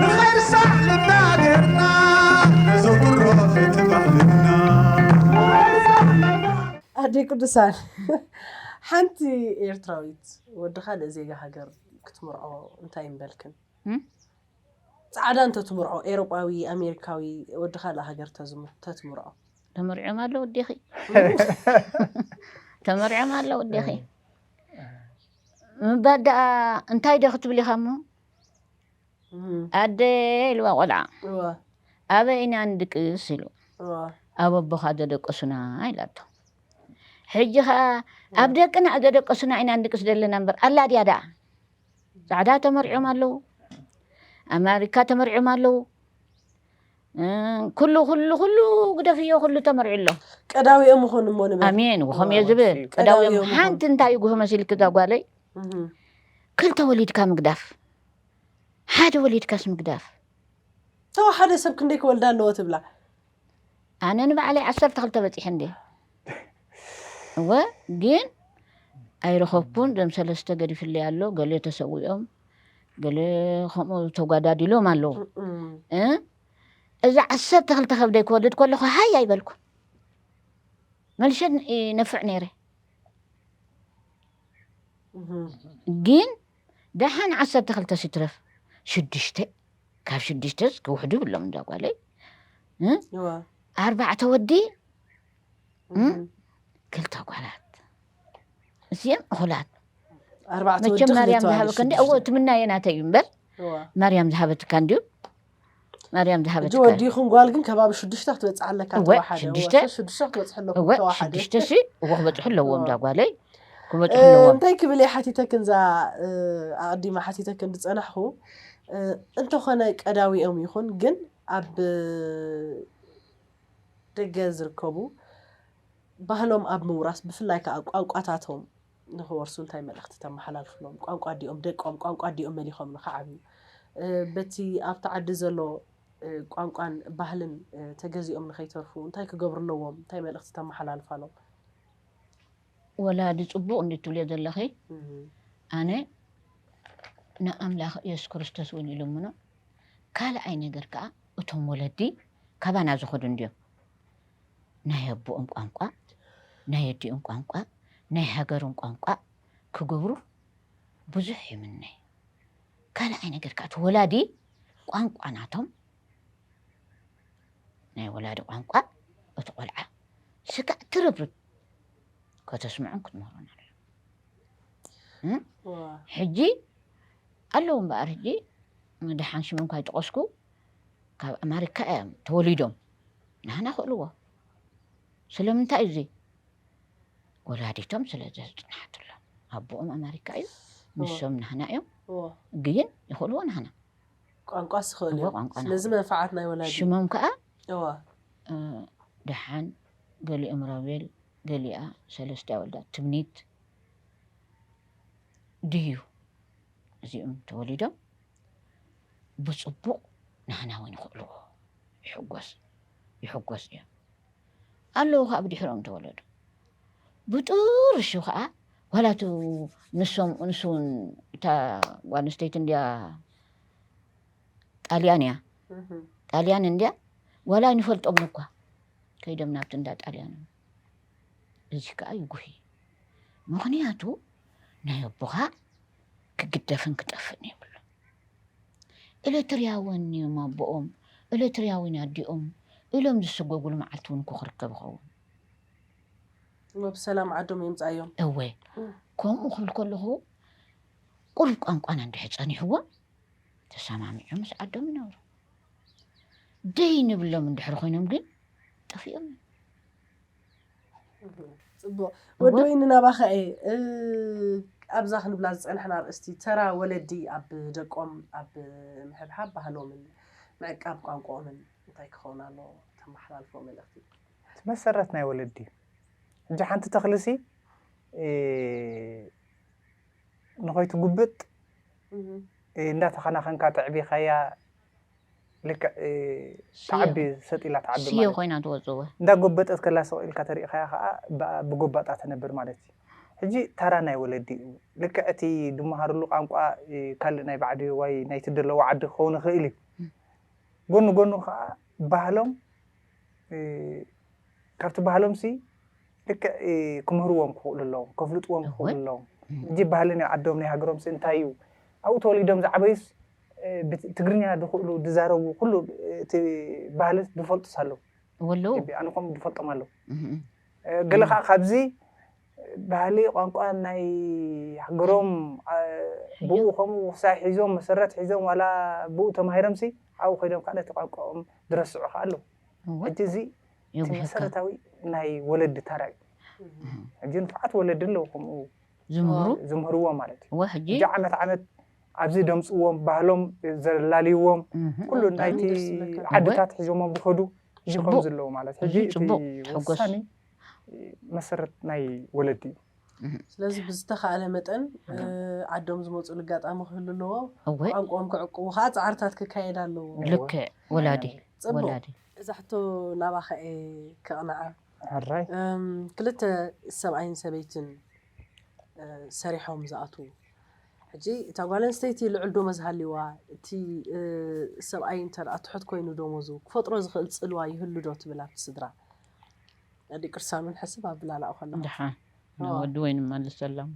ንኸይርሳዕ ልብና ገርና ነዘውትሮ እቲ ባህልና ኣደይ ቅዱሳን ሓንቲ ኤርትራዊት ወዲ ካልእ ዜጋ ሃገር ክትምርዖ እንታይ ምበልክን? እም? ጻዕዳ እንተትምርዖ ኤሮጳዊ ኣሜሪካዊ ወዲ ካልእ ሃገር ተዝም- ተትምርዖ ተመሪዖም ኣለዉ እዴኺ ተመሪዖም ኣለዉ እዴኺ ምባል ደኣ እንታይ ዶ ክትብል ኢኻ እሞ ኣደ ኢልዋ ቆልዓ ኣበይ ኢና ንድቅስ ኢሉ ኣብ ኣቦኻ ዘደቀሱና ኢላቶ ሕጂ ከኣ ኣብ ደቅና ዘደቀሱና ኢና ንድቅስ ዘለና እምበር ኣላ ድያ ደኣ ጻዕዳ ተመርዕዮም ኣለዉ ኣማሪካ ተመርዕዮም ኣለዉ ኩሉ ኩሉ ኩሉ ግደፍዮ ኩሉ ተመርዑ ኣሎ ቀዳዊኦም ይኾኑ እሞ ንበል ኣሜን ወኸም እየ ዝብል ቀዳዊኦም ሓንቲ እንታይ ይጉህ መሲልክ እዛ ጓለይ ክልተ ወሊድካ ምግዳፍ ሓደ ወሊድካስ ምግዳፍ። ተወሓደ ሰብ ክንደይ ክወልዳ ኣለዎ ትብላ? ኣነ ንባዕለይ ዓሰርተ ክልተ በፂሐ እንድየ እወ ግን ኣይረኸብኩን ዘም ሰለስተ ገዲፍለይ ኣሎ ገለ ተሰዊኦም ገለ ከምኡ ተጓዳዲሎም ኣለዉ እዚ ዓሰርተ ክልተ ከብደይ ክወልድ ከለኹ ሃይ ኣይበልኩ መልሸ ነፍዕ ነይረ ግን ደሓን ዓሰርተ ክልተስ ይትረፍ ሽዱሽተ ካብ ሽዱሽተስ ክውሕዱ ይብሎም እንዳ ጓለይ እ? እወ ኣርባዕተ ወዲ እ? ክልተ ጓላት እዚኦም እኹላት ኣርባዕተ ወዲ መቸም ማርያም ክልተ ዝሃበካ እንዲ ኣዋልድ እዎ ትምናየ ናተይ እዩ እምበር ሽዱሽተ። እወ ማርያም ዝሃበትካ እንዲዩ ማርያም ዝሃበትካ ሕጂ ወዲኹም ጓል ግን ከባቢ ሽዱሽተ ክትበፅሕ ኣለካ ተዋሓደ ሽዱሽተ ሽዱሽተ ክትበፅሑ ኣለኩም ተዋሓደ ሽዱሽተ ሲ እዎ ክበፅሑ ኣለዎም እዛ ጓለይ ክበፅሑ ኣለዎም እንታይ ክብል እየ ሓቲተክን እዛ ኣቐዲማ ሓቲተክን ዝፀናሕኹ እንተኾነ ቀዳዊኦም ይኹን ግን ኣብ ደገ ዝርከቡ ባህሎም ኣብ ምውራስ ብፍላይ ከዓ ቋንቋታቶም ንኽወርሱ እንታይ መልእኽቲ ተመሓላልፍሎም? ቋንቋ ኣዲኦም ደቆም ቋንቋ ኣዲኦም መሊኾም ንኽዓብዩ በቲ ኣብቲ ዓዲ ዘሎ ቋንቋን ባህልን ተገዚኦም ንኸይተርፉ እንታይ ክገብሩ ኣለዎም? እንታይ መልእኽቲ ተመሓላልፋሎም? ወላዲ ጽቡቕ እንድዩ ትብልዮ ዘለኺ ኣነ ንኣምላኽ የሱስ ክርስቶስ እውን ይልምኖ ካልኣይ ነገር ከኣ እቶም ወለዲ ካባና ዝኸዱ እንድዮም ናይ ኣቦኦም ቋንቋ፣ ናይ ኣዲኦም ቋንቋ፣ ናይ ሃገሮም ቋንቋ ክገብሩ ብዙሕ ይምነ። ካልኣይ ነገር ከኣ እቲ ወላዲ ቋንቋ ናቶም ናይ ወላዲ ቋንቋ እቲ ቆልዓ ስጋእ ትርብርብ ከተስምዑን ክትምህሩን ኣሎ ሕጂ ኣለዉ እምበኣር ሕጂ ድሓን ሽም እንኳ ይጥቐስኩ ካብ ኣማሪካ እዮም ተወሊዶም ናህና ክእልዎ ስለምንታይ እዙይ ወላዲቶም ስለ ዘፅንሓትሎም ኣቦኦም ኣመሪካ እዩ ንሶም ናህና እዮም ግን ይኽእልዎ ናህና ቋንቋ ስኽእል እዮም ስለዚ መንፈዓት ናይ ወላዲ ሽሞም ከዓ ደሓን ገሊኦም ሮቤል ገሊኣ ሰለስቲያ ወልዳ ትምኒት ድዩ እዚኦም ተወሊዶም ብጽቡቕ ናህና ውን ይኽእልዎ ይሕጎሱ ይሕጎሱ እዮም ኣለዉ ከኣ ብድሕሮም ተወለዱ ብጥርሹ ከኣ ዋላ እቱ ንሶም ንሱ ውን እታ ጓል ኣንስተይቲ እንድያ ጣልያን እያ ጣልያን እንድያ ዋላ ኣይንፈልጦም እኳ ከይዶም ናብቲ እንዳ ጣልያን ልጅ ከኣ ይጉሂ ምኽንያቱ ናይ ኣቦኻ ክግደፍን ክጠፍእን የብሉ ኤለትርያወን እዮም ኣቦኦም ኤለትርያዊን ኣዲኦም ኢሎም ዝስጎጉሉ መዓልቲ ውን እኮ ክርከብ ይኸውን። እሞ ብሰላም ዓዶም የምጽኣዮም። እወ ከምኡ ክብል ከለኹ ቁሩብ ቋንቋና እንድሕር ጸኒሕዎም ተሰማሚዖም ምስ ዓዶም ይነብሩ ደይ ንብሎም እንድሕር ኮይኖም ግን ጠፊኦም ፅቡቅ ወዲ ወይ ንናባኸ እየ ኣብዛ ክንብላ ዝፀናሕና ኣርእስቲ ተራ ወለዲ ኣብ ደቆም ኣብ ምሕብሓብ ባህሎምን ምዕቃብ ቋንቋኦምን እንታይ ክኸውን ኣለዎ ተመሓላልፎ መልእኽቲ መሰረት ናይ ወለዲ እዩ ሕጂ ሓንቲ ተኽልሲ ንኸይትጉብጥ እንዳተኸናኸንካ ተዕቢኻያ ልክዕ ትዓቢ ሰጥ ኢላ ትዓቢ ስየ ኮይና ትወጽእ እወ እንዳጎበጠት ከላ ስቕ ኢልካ ተሪእኻያ ከኣ ብኣ ብጎባጣ ትነብር ማለት እዩ ሕጂ ታራ ናይ ወለዲ እዩ ልክዕ እቲ ድመሃርሉ ቋንቋ ካልእ ናይ ባዕዲ ዋይ ናይቲ ደለዎ ዓዲ ክኸውን ይኽእል እዩ ጎኑ ጎኑ ከኣ ባህሎም ካብቲ ባህሎምሲ ልክዕ ክምህርዎም ክኽእሉ ኣለዎም፣ ከፍልጥዎም ክኽእሉ ኣለዎም። ሕጂ ባህሊ ናይ ዓዶም ናይ ሃገሮምሲ እንታይ እዩ? ኣብኡ ተወሊዶም ዝዓበዩስ ትግርኛ ዝኽእሉ ዝዛረቡ ኩሉ እቲ ባህሊ ዝፈልጡስ ኣለዉ። ኣነ ከምኡ ዝፈልጦም ኣለዉ። ገለ ከኣ ካብዚ ባህሊ ቋንቋ ናይ ሃገሮም ብኡ ከምኡ ውሳይ ሒዞም መሰረት ሒዞም ዋላ ብኡ ተማሂሮም ሲ ኣብኡ ከይዶም ካኣ ነቲ ቋንቋኦም ዝረስዑ ካኣ ኣለዉ ሕጂ እዚ እቲ መሰረታዊ ናይ ወለዲ ታራ እዩ ሕጂ ንፉዓት ወለዲ ኣለዉ ከምኡ ዝምህሩ ዝምህርዎም ማለት እዩ እወ ሕጂ ሕጂ ዓመት ዓመት ኣብዚ ደምጽዎም ባህሎም ዘላልይዎም ኩሉ ናይቲ ዓድታት ሒዞሞም ዝከዱ ሕጂ ከምዚ ኣለዉ ማለት ሕጂ እቲ ወሳኒ መሰረት ናይ ወለዲ እዩ። ስለዚ ብዝተኻእለ መጠን ዓዶም ዝመፅሉ ኣጋጣሚ ክህሉ ኣለዎ። ቋንቆኦም ክዕቅቡ ከዓ ፃዕርታት ክካየድ ኣለዎ። ልክዕ ወላዲ ወላዲ። እዛ ሕቶ ናባኻ እየ ከቕንዓ። ሕራይ። ክልተ ሰብኣይን ሰበይትን ሰሪሖም ዝኣትዉ ሕጂ እታ ጓል ኣንስተይቲ ልዑል ዶመዝ ሃልይዋ እቲ ሰብኣይ እንተድኣ ትሑት ኮይኑ ዶሞዙ ክፈጥሮ ዝኽእል ፅልዋ ይህሉ ዶ ትብል ኣብቲ ስድራ? ዲቅር ሳሎን ሕስብ ኣብላላኦ ከለኹ ድሓን ወዲ ወይ ንመልሰሎም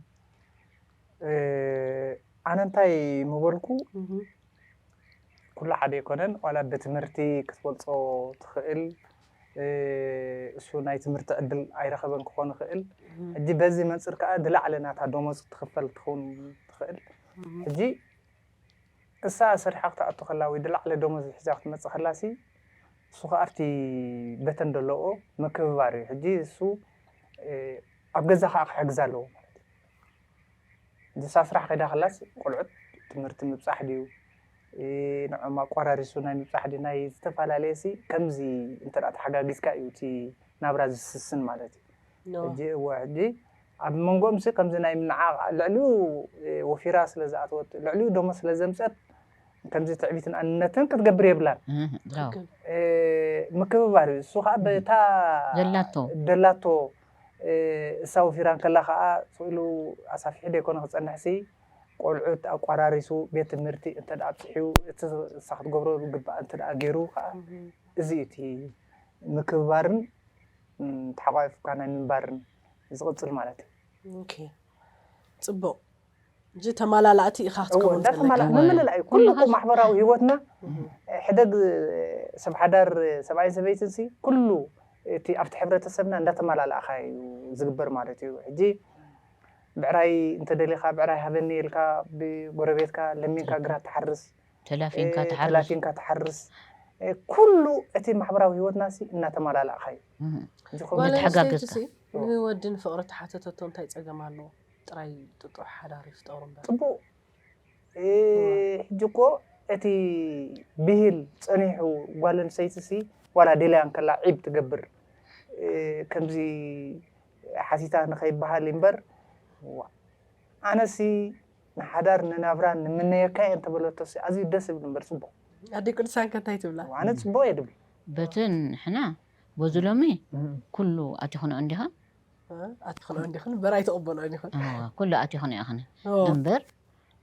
ኣነ እንታይ ምበልኩ ኩሉ ሓደ ኣይኮነን ዋላ ብትምህርቲ ክትበልፆ ትኽእል እሱ ናይ ትምህርቲ ዕድል ኣይረኸበን ክኾን ይኽእል ሕጂ በዚ መንፅር ከዓ ዝለዓለ ናታ ደሞዝ ትኽፈል ትኸውን ትኽእል ሕጂ እሳ ሰሪሓ ክትኣቱ ከላ ወይ ድላዕለ ደሞዝ ሒዛ ክትመጽእ ከላ ሲ እሱ ከኣ ኣብቲ በተን ደለዎ ምክብባር እዩ ሕጂ እሱ ኣብ ገዛ ከኣ ክሕግዛ ኣለዎ ማለት እዩ እንተ እሳ ስራሕ ከይዳ ከላስ ቆልዑት ትምህርቲ ምብጻሕ ድዩ ንዖም ኣቋራሪሱ ናይ ምብጻሕ ድዩ ናይ ዝተፋላለየ ሲ ከምዚ እንተ ተሓጋጊዝካ እዩ እቲ ናብራ ዝስስን ማለት እዩ። ሕጂ እወ ሕጂ ኣብ መንጎኦምሲ ከምዚ ናይ ምንዓቕ ልዕሊኡ ወፊራ ስለ ዝኣተወት ልዕሊኡ ደሞዝ ስለ ዘምጸት ከምዚ ትዕቢትን ኣንነትን ክትገብር የብላን ምክብባር እዩ እሱ ከኣ በታ ዘላቶ ደላቶ እሳ ወፊራ እንከላ ከኣ ስእሉ ኣሳፊሑ ደይኮነ ክጸንሕሲ ቆልዑት ኣቋራሪሱ ቤት ትምህርቲ እንተ ኣብጽሕዩ እቲ እሳ ክትገብሮ ዝግብኣ እንተ ገይሩ ከኣ እዚ እዩ እቲ ምክብባርን ተሓቛቒፍካ ናይ ምንባርን ዝቕጽል ማለት እዩ። ኦኬ ጽቡቕ እዚ ተማላላእቲ ኢኻ ክትከውን እወ ዘለካ እንዳተማላ ምምልላእ እዩ ኩሉ እኮ ማሕበራዊ ሂወትና ሕደግ ሰብ ሓዳር ሰብኣይን ሰበይትን ሲ ኩሉ እቲ ኣብቲ ሕብረተሰብና እንዳተማላላእኻ እዩ ዝግበር ማለት እዩ ሕጂ ብዕራይ እንተደሊኻ ብዕራይ ሃበኒ ኢልካ ብጎረቤትካ ለሚንካ ግራት ትሓርስ ተላፊንካ ትሓርስ። ተላፊንካ ትሓርስ። ኩሉ እቲ ማሕበራዊ ህይወትናሲ እናተማላላእካዩ ዝኸውን። ነቲ ሓጋገዝካ። ጓል ኣንስተይቲ ሲ ንወዲ ንፍቕሪ ተሓተተቶ እንታይ ጸገም ኣለዎ? ጥራይ ጥጡሕ ሓዳር ይፍጠሩ እምበር። ጽቡቕ ሕጂ እኮ እቲ ብሂል ጸኒሑ ጓል ኣንስተይቲ ሲ ዋላ ደልያ እንከላ ዒብ ትገብር ከምዚ ሓቲታ ንኸይበሃል እምበር ዋእ ኣነሲ። ንሓዳር ንናብራ ንምነየካ እየ እንተበለቶሲ ኣዝዩ ደስ ዝብል እምበር ጽቡቕ። ኣደይ ቅዱሳን ከ እንታይ ትብላ? ኣነ ጽቡቕ እየ ድብል። በቲ ንሕና በዚ ሎሚ ኩሉ ኣቲክንኦ እንዲኽን። ኣቲክንኦ እንዲኽን እምበር ኣይትቕበልኦን ኢኽን። እወ ኩሉ ኣቲክንኦ ኢኽን እምበር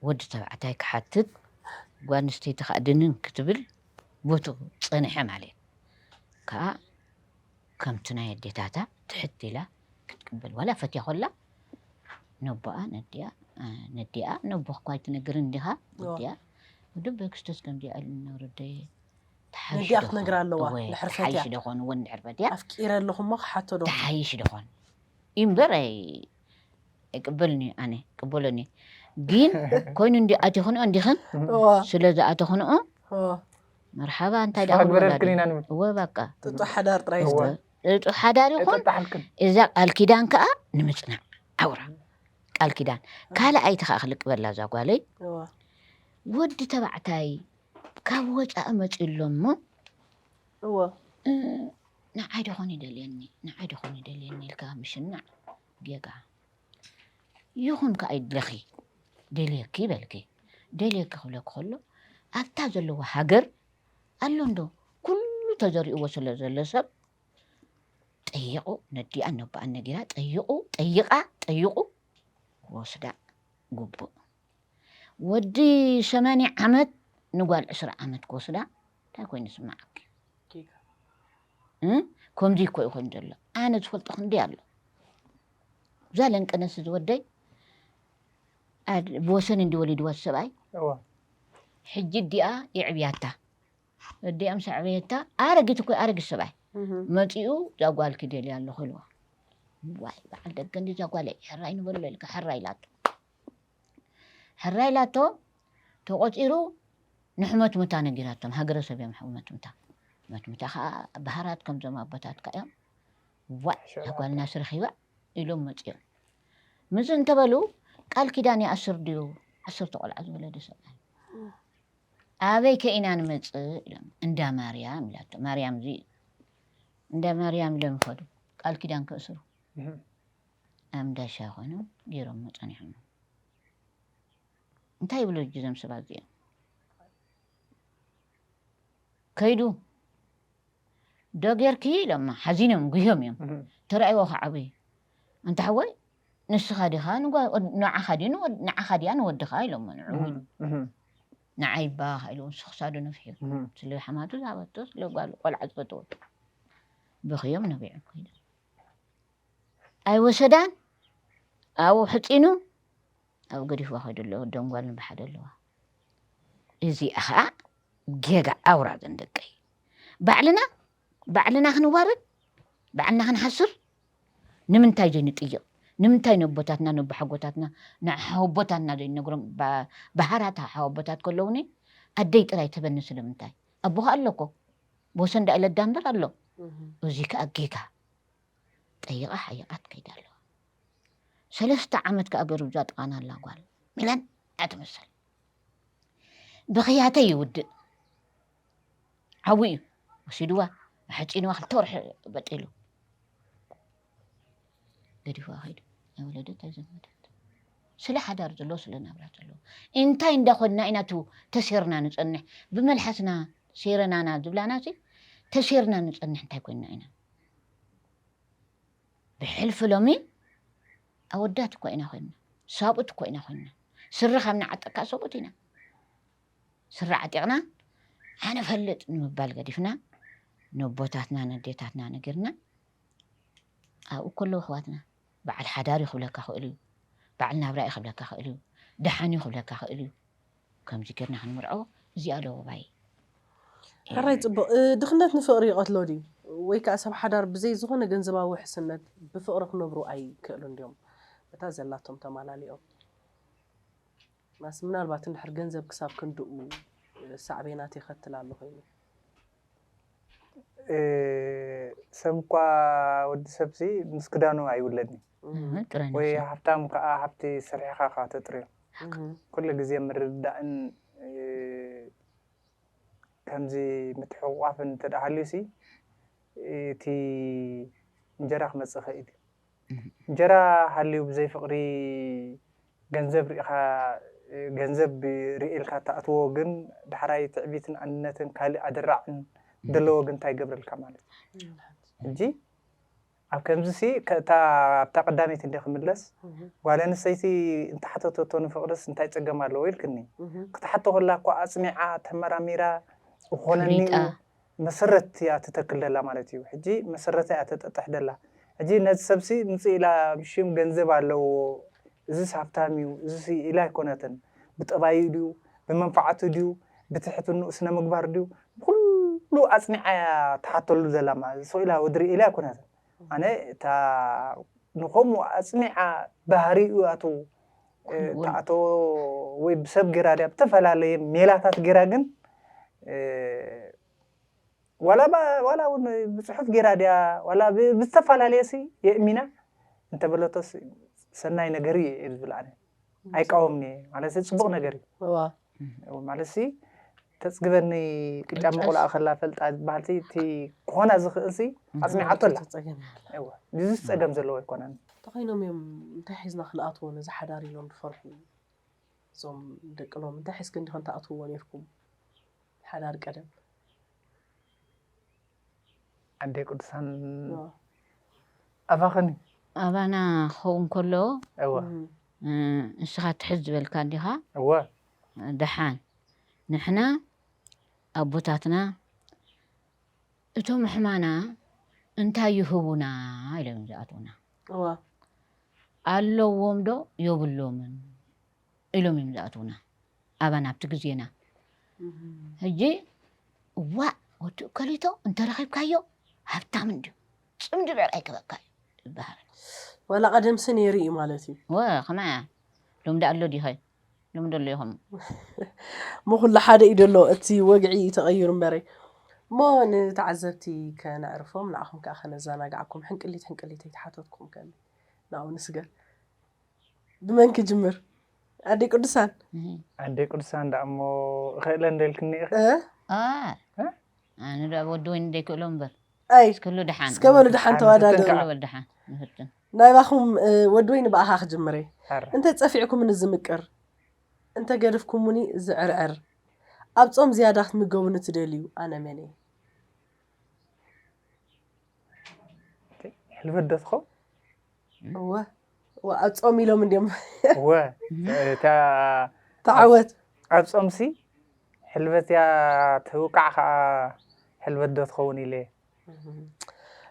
ወዲ ተባዕታይ ክሓትት ጓል ኣንስተይቲ ከኣ ድንን ክትብል ቦቱ ጸኒሐ ማለት ከኣ ከምቲ ናይ ኣዴታታ ትሕት ኢላ ክትቅበል ዋላ ፈትያ ኮላ ነቦኣ ነዲኣ ነዲኣ ነቦ እኳ ኣይትነግርን እንዲኻ ወዲኣ ወዲ በክስቶስ ከምዚ ዕል ነውርደየ ነዲኣ ክትነግር ኣለዋ ድሕር ፈትያ ደኾን እውን ድሕር ፈትያ ኣፍቂረ ኣለኹ እሞ ክሓቶ ዶ ተሓይሽ ደኾን እዩ እምበር ኣይቅበልን እዩ ኣነ ቅበሎን እዩ ግን ኮይኑ እንዲ ኣቲኽንኦ እንዲኽን ስለ ዝኣተኽንኦ መርሓባ እንታይ ዳግበረልክን ኢና ንብል እወ ባቃ ጥጡ ሓዳር ጥራይ ዕጡቕ ሓዳር ይኹን እዛ ቃል ኪዳን ከዓ ንምፅናዕ ዓውራ ቃል ኪዳን ካልኣይቲ ከዓ ክልቅበላ እዛ ጓለይ ወዲ ተባዕታይ ካብ ወፃኢ መፅኡ ኣሎ እሞ ንዓይ ደኾን ይደልየኒ ንዓይ ደኾን ይደልየኒ ኢልካ ምሽናዕ ጌጋ ይኹን ከዓ ይድለኺ ደልየኪ በልኪ ደልየኪ ክብለኪ ከሎ ኣብታ ዘለዎ ሃገር ኣሎ እንዶ ኩሉ ተዘሪእዎ ስለ ዘሎ ሰብ ጠይቑ ነዲኣን ነቦኣን ነጊራ ጠይቑ ጠይቓ ጠይቑ ክወስዳ ግቡእ ወዲ ሸመኒ ዓመት ንጓል ዕስራ ዓመት ክወስዳ እንታይ ኮይኑ ስማዓኪ ከምዚ እኮ እዩ ኮይኑ ዘሎ ኣነ ዝፈልጦ ክንደይ ኣሎ እዛ ለንቀነስ ዝወደይ ኣድ ብወሰን እንዲ ወሊድዋ እቲ ሰብኣይ እወ ሕጂ እዲኣ የዕብያታ እዲኣ ምስ ኣዕበየታ ኣረጊት እኮ ኣረጊት ሰብኣይ እህ፣ መፂኡ እዛ ጓል ክደልያ ኣለኹ ኢልዋ ዋይ በዓል ደገ እንዲ እዛ ጓለይ ሕራይ ንበሎ ኢልካ ሕራይ ኢላቶ ሕራይ ኢላቶ ተቖፂሩ ንሕመት ሙታ ነጊራቶም ሃገረሰብ እዮም ሕመት ሙታ ሕመት ሙታ ከዓ ባህራት ከምዞም ኣቦታትካ እዮም ዋይ እዛ ጓልና ስረኺባ ኢሎም መጺኦም ምዚ እንተበሉ ቃል ኪዳን ይኣስር ድዩ ዓሰርተ ቆልዓ ዝወለደ ሰብኣይ ኣበይ ከኢና ንመፅእ ኢሎም እንዳ ማርያም ኢላቶ ማርያም እዚ እንዳ ማርያም ኢሎም ይኸዱ ቃል ኪዳን ክእስሩ ኣምዳሻ ኮኑ ገይሮም መፀኒሖም እንታይ ይብሉ እጅ ዘም ሰባት እዚኦም ከይዱ ዶ ጌርኪ ኢሎማ ሓዚኖም ጉህዮም እዮም ተራእይዎ ክዓብዩ ኣንታ ሓወይ ንስኻ ዲኻ ንዓኻ ድዩ ንዓኻ ድያ ንወድኻ ኢሎሞ ንዕኡ ንዓይ ባኽ ኢሉ ንሱ ክሳዱ ነፍሒቡ ስለ ሓማቱ ዝሃበቶ ስለ ጓሉ ቆልዓ ዝፈተወቶ ብኽዮም ነቢዖም ከይዶም ኣይወሰዳን ኣብኡ ሕፂኑ ኣብኡ ገዲፍዋ ከይዱ ኣሎ ወዶም ጓልን ብሓደ ኣለዋ። እዚኣ ከኣ ጌጋ ኣውራ ግን ደቀይ ባዕልና ባዕልና ክንዋረድ ባዕልና ክንሓስር ንምንታይ ዘይንጥይቕ ንምንታይ ነቦታትና ነቦሓጎታትና ንሓወቦታትና ዘይንነግሮም ባህራት ሓወቦታት ከለውኒ ኣደይ ጥራይ ትበኒ ስለምንታይ ኣቦ ከኣ ኣሎኮ ብወሰን ዳኢለ ዳምበር ኣሎ እዚ ከኣ ጌጋ ጠይቓ ሓይቓት ከይዳ ኣለዋ ሰለስተ ዓመት ከኣ ገርብዛ ጥቓናላ ጓል ሚለን እያ ትምሰል። ብኽያተይ ይውድእ ሓዊ እዩ ወሲድዋ ኣሕጺንዋ ክልተ ወርሒ በጢሉ ገዲፍዋ ከይዱ ኣይወለደት ኣይዘመደት ስለ ሓዳር ዘለዎ ስለ ናብራ ዘለዎ እንታይ እንዳኮንና ኢና ቱ ተሴርና ንፀንሕ ብመልሓስና ሴረናና ዝብላና ሲ ተሴርና ንፀንሕ እንታይ ኮይንና ኢና ብሕልፊ ሎሚ ኣወዳት እኳ ኢና ኮይንና፣ ሳብኡት እኳ ኢና ኮይንና፣ ስረ ካብ ንዓጥቃ ሰብኡት ኢና። ስረ ዓጢቕና ኣነ እፈልጥ ንምባል ገዲፍና ነቦታትና ነዴታትና ነጊርና ኣብኡ እኮ ኣለዉ ኣሕዋትና። በዓል ሓዳር እዩ ክብለካ ክእል'ዩ፣ በዓል ናብራ እዩ ክብለካ ክእል'ዩ፣ ደሓን'ዩ ክብለካ ክእል'ዩ። ከምዚ ገርና ክንምርዖ እዚኣ ዶ ዋይ ኤሪ። ሕራይ ጽቡቅ ድኽነት ንፍቅሪ ይቀትሎ ድዩ ወይ ከኣ ሰብ ሓዳር ብዘይ ዝኾነ ገንዘባዊ ውሕስነት ብፍቅሪ ክነብሩ ኣይክእሉን ድዮም በታ ዘላቶም ተማላሊኦም ማስ ምናልባት እንድሕር ገንዘብ ክሳብ ክንድኡ ሳዕቤናት የኸትል ኣሎ ኮይኑ ሰብኳ ወዲ ሰብሲ ምስ ክዳኑ ኣይውለድን ወይ ሃብታም ከዓ ሃብቲ ስርሕኻ ካ ተጥርዮ ኩሉ ግዜ ምርድዳእን ከምዚ ምትሕቑቋፍን እንተደኣ ሃልዩሲ እቲ እንጀራ ክመፅእ ይኽእል እዩ። እንጀራ ሃልዩ ብዘይ ፍቅሪ ገንዘብ ሪኢኻ ገንዘብ ሪኤ ኢልካ ትኣትዎ ግን ዳሕራይ ትዕቢትን ኣንነትን ካልእ ኣደራዕን ደለዎ ግን ታይ ይገብረልካ ማለት እዩ ሕጂ ኣብ ከምዚ ሲ እታ ኣብታ ቀዳመይቲ እንደ ክምለስ ጓል ኣንስተይቲ እንተሓተተቶ ንፍቅርስ እንታይ ጸገም ኣለዎ ኢልክኒ ክትሓቶ ከላ እኮ ኣጽኒዓ ተመራሚራ ዝኾነኒ እዩ መሰረት እያ ትተክል ደላ ማለት እዩ ሕጂ መሰረታ እያ ተጠጥሕ ደላ ሕጂ ነዚ ሰብሲ ምጽእ ኢላ ብሽም ገንዘብ ኣለዎ እዝስ ሃብታም እዩ እዝስ ኢላ ኣይኮነትን ብጠባዩ ድዩ ብመንፋዓቱ ድዩ ብትሕትንኡ ስነምግባር ድዩ ብኩሉ ኣጽኒዓ እያ ትሓተሉ ደላ ማለት ስቅ ኢላ ወድሪ ኢላ ኣይኮነትን ኣነ እታ ንከምኡ ኣጽኒዓ ባህሪኡ ኣቱ ተኣተዎ ወይ ብሰብ ግራ ድያ ብተፈላለየ ሜላታት ግራ ግን ዋላ ዋላ እውን ብፅሑፍ ግራ ድያ ዋላ ብዝተፈላለየ ሲ የእሚና እንተበለቶ ሰናይ ነገር እዩ ዝብል ኣነ ኣይቃወምን እየ ማለት ፅቡቅ ነገር እዩ ማለት ሲ ተጽግበኒ ቅጫ መቑልኣ ከላ ፈልጣ ዝበሃልሲ እቲ ክኾና ዝኽእልሲ ኣጽኒዓቶ ኣላ እወ ድዚስ ጸገም ዘለዎ ኣይኮነን እንተኾይኖም እዮም እንታይ ሒዝና ክንኣትዎ ነዚ ሓዳር ኢሎም ዝፈርሑ እዞም ደቂ ሎም እንታይ ሒዝክን ዲኽን ትኣትውዎ ኔርኩም ሓዳር ቀደም ኣደይ ቅዱሳን ኣባኸኒ ኣባና ክኸውን ከሎ እወ ንስኻ ትሕዝ ዝበልካ ዲኻ እወ ደሓን ንሕና ኣቦታትና እቶም ሕማና እንታይ ይህቡና ኢሎም እዮም ዝኣትዉና እወ ኣለዎም ዶ የብሎምን ኢሎም እዮም ዝኣትዉና ኣባና ኣብቲ ግዜና ሕጂ እዋእ ወዲ እከሊቶ እንተረኺብካዮ ሃብታም እንድዩ ፅምዲ ልዕል ኣይገበካ እዩ ይበሃል ወላ ቀደምሲ ነይሩ እዩ ማለት እዩ ወ ከማያ ሎም ዳኣ ኣሎ ዲኸ ሎም ደሎ ኢኹም እሞ ኩሉ ሓደ እዩ ደሎ እቲ ወግዒ እዩ ተቐይሩ እምበረይ እሞ ንተዓዘብቲ ከነዕርፎም ንዓኹም ከዓ ከነዘናግዓኩም ሕንቅሊት ሕንቅሊተይ ተሓተትኩም ከ ናብኡ ንስገር ብመን ክጅምር ኣደይ ቅዱሳን ኣደይ ቅዱሳን ዳኣ እሞ እኽእለ እንደልክኒ ኢኺ ኣነ ዳኣ ወዲ ወይኒ ደይክእሎ እምበር ኣይ እስከ በሉ ደሓን ተዋዳደሩ ናይባኹም ወዲ ወይኒ ብኣኻ ክጅምር እየ እንተ ጸፊዕኩምኒ ዝምቅር እንተ ገድፍኩሙኒ ዝዕርዕር ኣብ ጾም ዝያዳ ክትምገቡኒ ትደልዩ ኣነ መን እየ ሕልበት ዶ ትኸውን እወ ኣብ ጾም ኢሎም እንዲዮም እወ ተዓወት ኣብ ጾምሲ ሕልበት እያ ትውቃዕ ከዓ ሕልበት ዶ ትኸውን ኢለ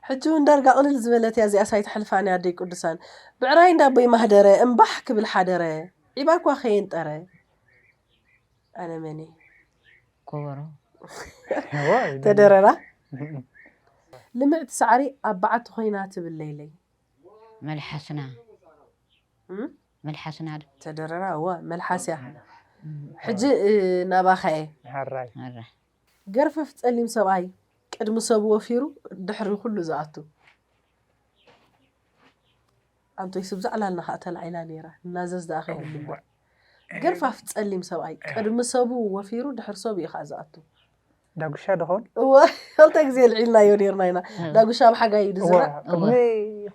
ሕጂ ውን ዳርጋ ቅልል ዝበለት እያ እዚኣስ ኣይትሐልፋን እያ ኣደይ ቅዱሳን ብዕራይ እንዳ ኣቦይ ማህደረ እምባሕ ክብል ሐደረ ዒባ እኳ ከየንጠረ ኣነ መን እየ ኮበሮ ተደረራ ልምዕቲ ሳዕሪ ኣብ በዓቲ ኮይና ትብል ለይለይ መልሓስና መልሓስና ዶ ተደረራ እወ መልሓስ እያ ሕጂ ናባኻ እየ ሐራይ ገርፈፍ ጸሊም ሰብኣይ ቅድሚ ሰቡ ወፊሩ ድሕሪ ኩሉ ዝኣቱ። ኣንቶይ ስብ ዘዕላልና ከኣ ተላዒላ ነይራ ናዘዝ ደኣ ከይንምልዕ ገርፋፍ ጸሊም ሰብኣይ ቅድሚ ሰቡ ወፊሩ ድሕሪ ሰቡ እዩ ከኣ ዝኣቱ። ዳጉሻ ዶኾን? እወ ክልተ ግዜ ኣልዒልናዮ ኔርና ኢና ዳጉሻ ኣብ ሓጋይ እዩ ዝዝራእ። እወ ቅድሚ